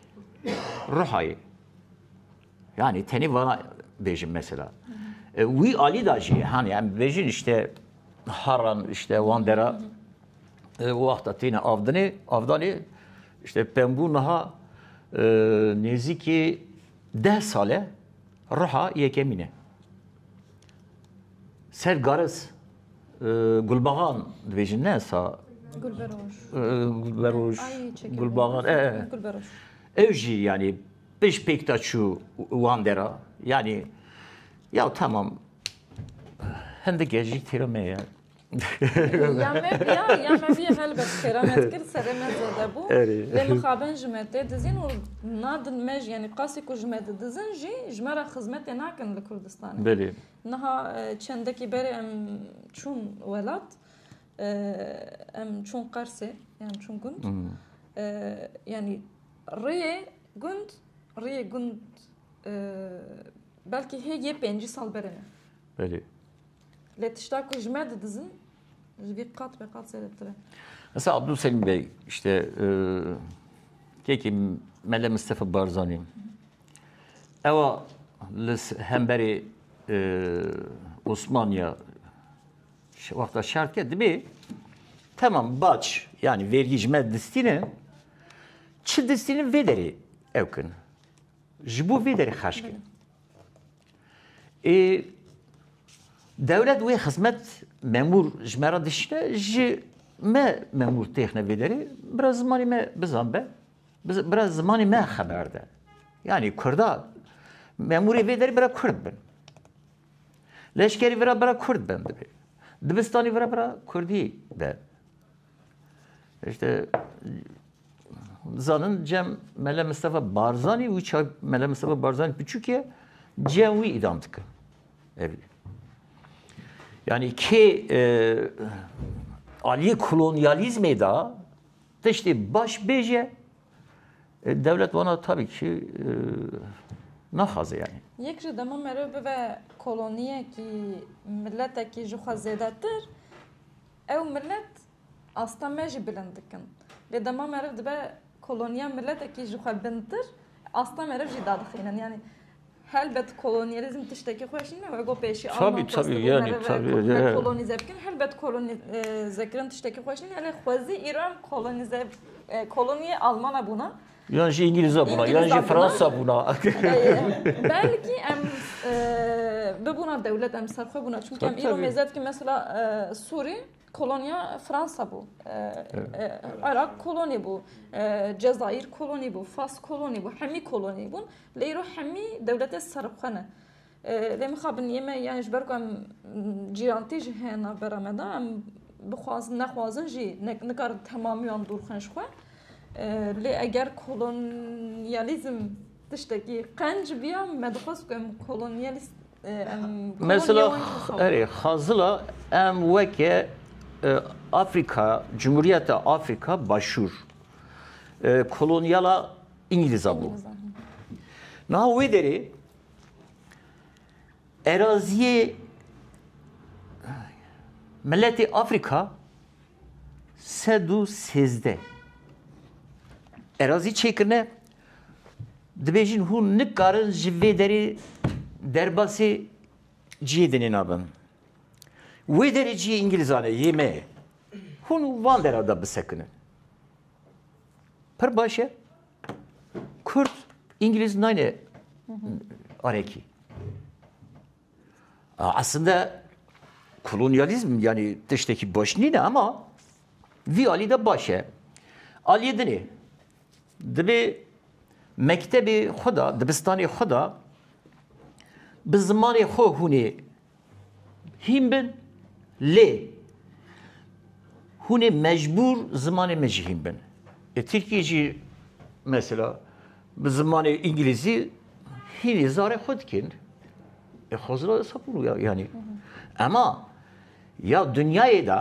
ruhayê. Yani tenê vana bêjim mesela. E, wî alî da jî hani em bêjin işte haran işte wan dera e, wexta tîne avdinê avdanê işte pembû niha e, nêzîkî deh sale ruha yekemîne. Ser garis gulbaxan dibêjin ne sa Gulberoj. Gulberoj. Gulbaxan. Ev jî yani Pişt pêk da çû wan dera, yanî yaw temam hindik e jî kêra me ye. Ya me biya, ya me biya helbet kêra me dikir serê me zede bû. Lê mixabin ji me tê dizîn û nadin me jî yanî qasî ku ji me didizin jî ji me re xizmetê nakin li Kurdistanê. Belê. Niha çendekî berê em çûn welat em çûn Qersê yan çûn gund yanî Riyê gund, riyê gund belkî hê yê pêncî sal berê me. Belê. Lê tişta ku ji me didizin ji vî qat be qat zêdetir e. Mesela Abdülselim Bey işte e, kekî Mele Mustafa Barzanî ewa li hemberê e, Osmaniya Wexta şart ke dibê temam baç yani vergî ji me distînin çi distînin vê derê ew kin. Ji bo vê derê xerç kin. Ê dewlet wê xizmet memûr ji me re dişine ji me memûr têxine vê derê bira zimanê me bizan be bira zimanê me xeber de. Yani kurda memûrê vê derê bira kurd bin. Leşkerî vira bira kurd ben dibê. Dibistanî vira bira kurdî ben. İşte zanin cem Mele Mustafa Barzani û çay Mele Mustafa Barzani piçûkê cem wî îdam dikin. Evî. Yani kê e, aliyê kolonyalizmê da tiştê baş bêje Dewlet wana tabî ki naxwaze yanî. Yek ji dema merov bibe koloniyekî, miletekî ji xwe zêdetir, ew milet asta me jî bilind dikin. Lê dema meriv dibe koloniya miletekî ji xwe bintir, asta meriv jî dadixînin. Yanî Helbet kolonyalizm tiştekî xweş nîne wê bo pêşî Alman xwest kolonîze bikin helbet kolonîzekirin tiştekî xweş nîne elê xwezî Îran kolonîze kolonîyê Almana bûna yan jî Îngîlîza bûna yan jî Fransa bûna belkî em bibûna dewlet em serxwe bûna çunke em îro mêze dikin mesela Sûrî Kolonya Fransa bû, Iraq kolonî bû, Cezayir kolonî bû, Fas kolonî bû, hemî kolonî bûn. Lê îro hemî dewletê serxwe ne. Lê mixabin yê me yani ji ber ku em cîrantî jî heye navbera me de em bixwazin nexwazin jî nikarin temamî wan dûr xin ji xwe. Lê eger kolonyalîzm Tiştekî qenc biya me dixwest ku em kolonyalîst Mesela erê xazila em weke Afrika Cumhuriyeta Afrika Başûr kolonyala İngiliz'a bû. Niha wê derê eraziyê miletê Afrika sed û sêzdeh erazî çêkirine Dibêjin hûn nikarin ji vê derê derbasê cihê dinê nabin. Wê derê cihê îngilizan e, yê me ye. Hûn van dera de bisekinin. Pir baş e. Kurd, îngiliz nayne arekî. Aslinde kolonyalîzm yanî tiştekî baş nîne ama vî alî de baş e. Aliyê din ê. Divê mektebê xwe da, dibistanê xwe da bi zimanê xwe hûnê hîn bin lê hûnê mecbûr zimanê min jî hîn bin. Ê Tirkiyê jî mesela Bi zimanê îngilîzî hînî zarê xwe dikên. E xwezira desa bû ya yanî. Ema ya dinyayê de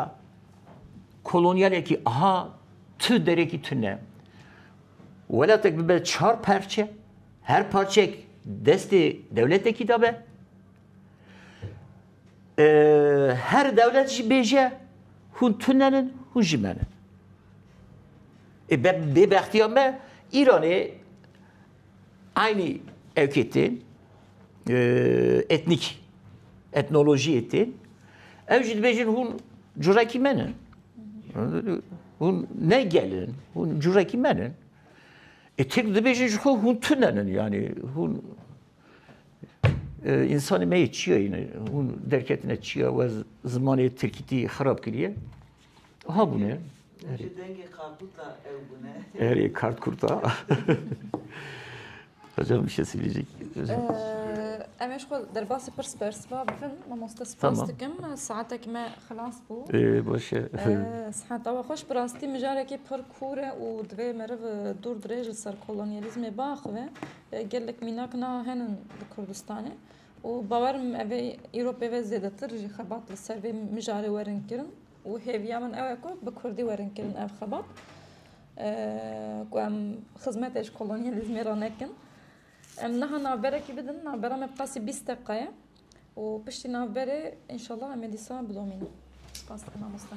kolonyalekî aha tu derekî tu ne. Welatek bibe çar parçe, her parçek destê dewletekî de be. Her dewlet jî bêje hûn tunen in, hûn jî men in. Ê bêbextiya me Îranê aynî ewkê tên etnîkî, etnolojiyê tên. Ew jî dibêjin hûn curekî men in. Hûn ne gel in, hûn curekî men in. Ê Tirk dibêjin ji xwe hûn tunen in yanî hûn İnsanê me yê çiya yine. Hûn derketine çiya we zimanê Tirkîtî xirab kiriye. Ha bûne. Ji dengê karkûta ew bûne. Erê karkûta. Hocam bir şey söyleyecek. Em eş xwe derbasî pirs pers va bifin mamoste spas dikim. Saetek me xilas bû. Boş e. Siheta we xweş bi rastî mijarekî pir kûr e û divê meriv dûr dirêj li ser kolonyalîzmê biaxive. Gelek mînak niha hene li Kurdistanê û bawer bikim ev ê îro pê ve zêdetir jî xebat li ser vê mijarê werin kirin û hêviya min ew e ku bi kurdî werin kirin ev xebat ku em xizmetê ji kolonyalîzmê re nekin. Em niha navberekî bidin, navbera me bi qasî bîst deqiqa ye û piştî navberê înşallah em ê dîsa bidomînin. Spas dikim mamoste.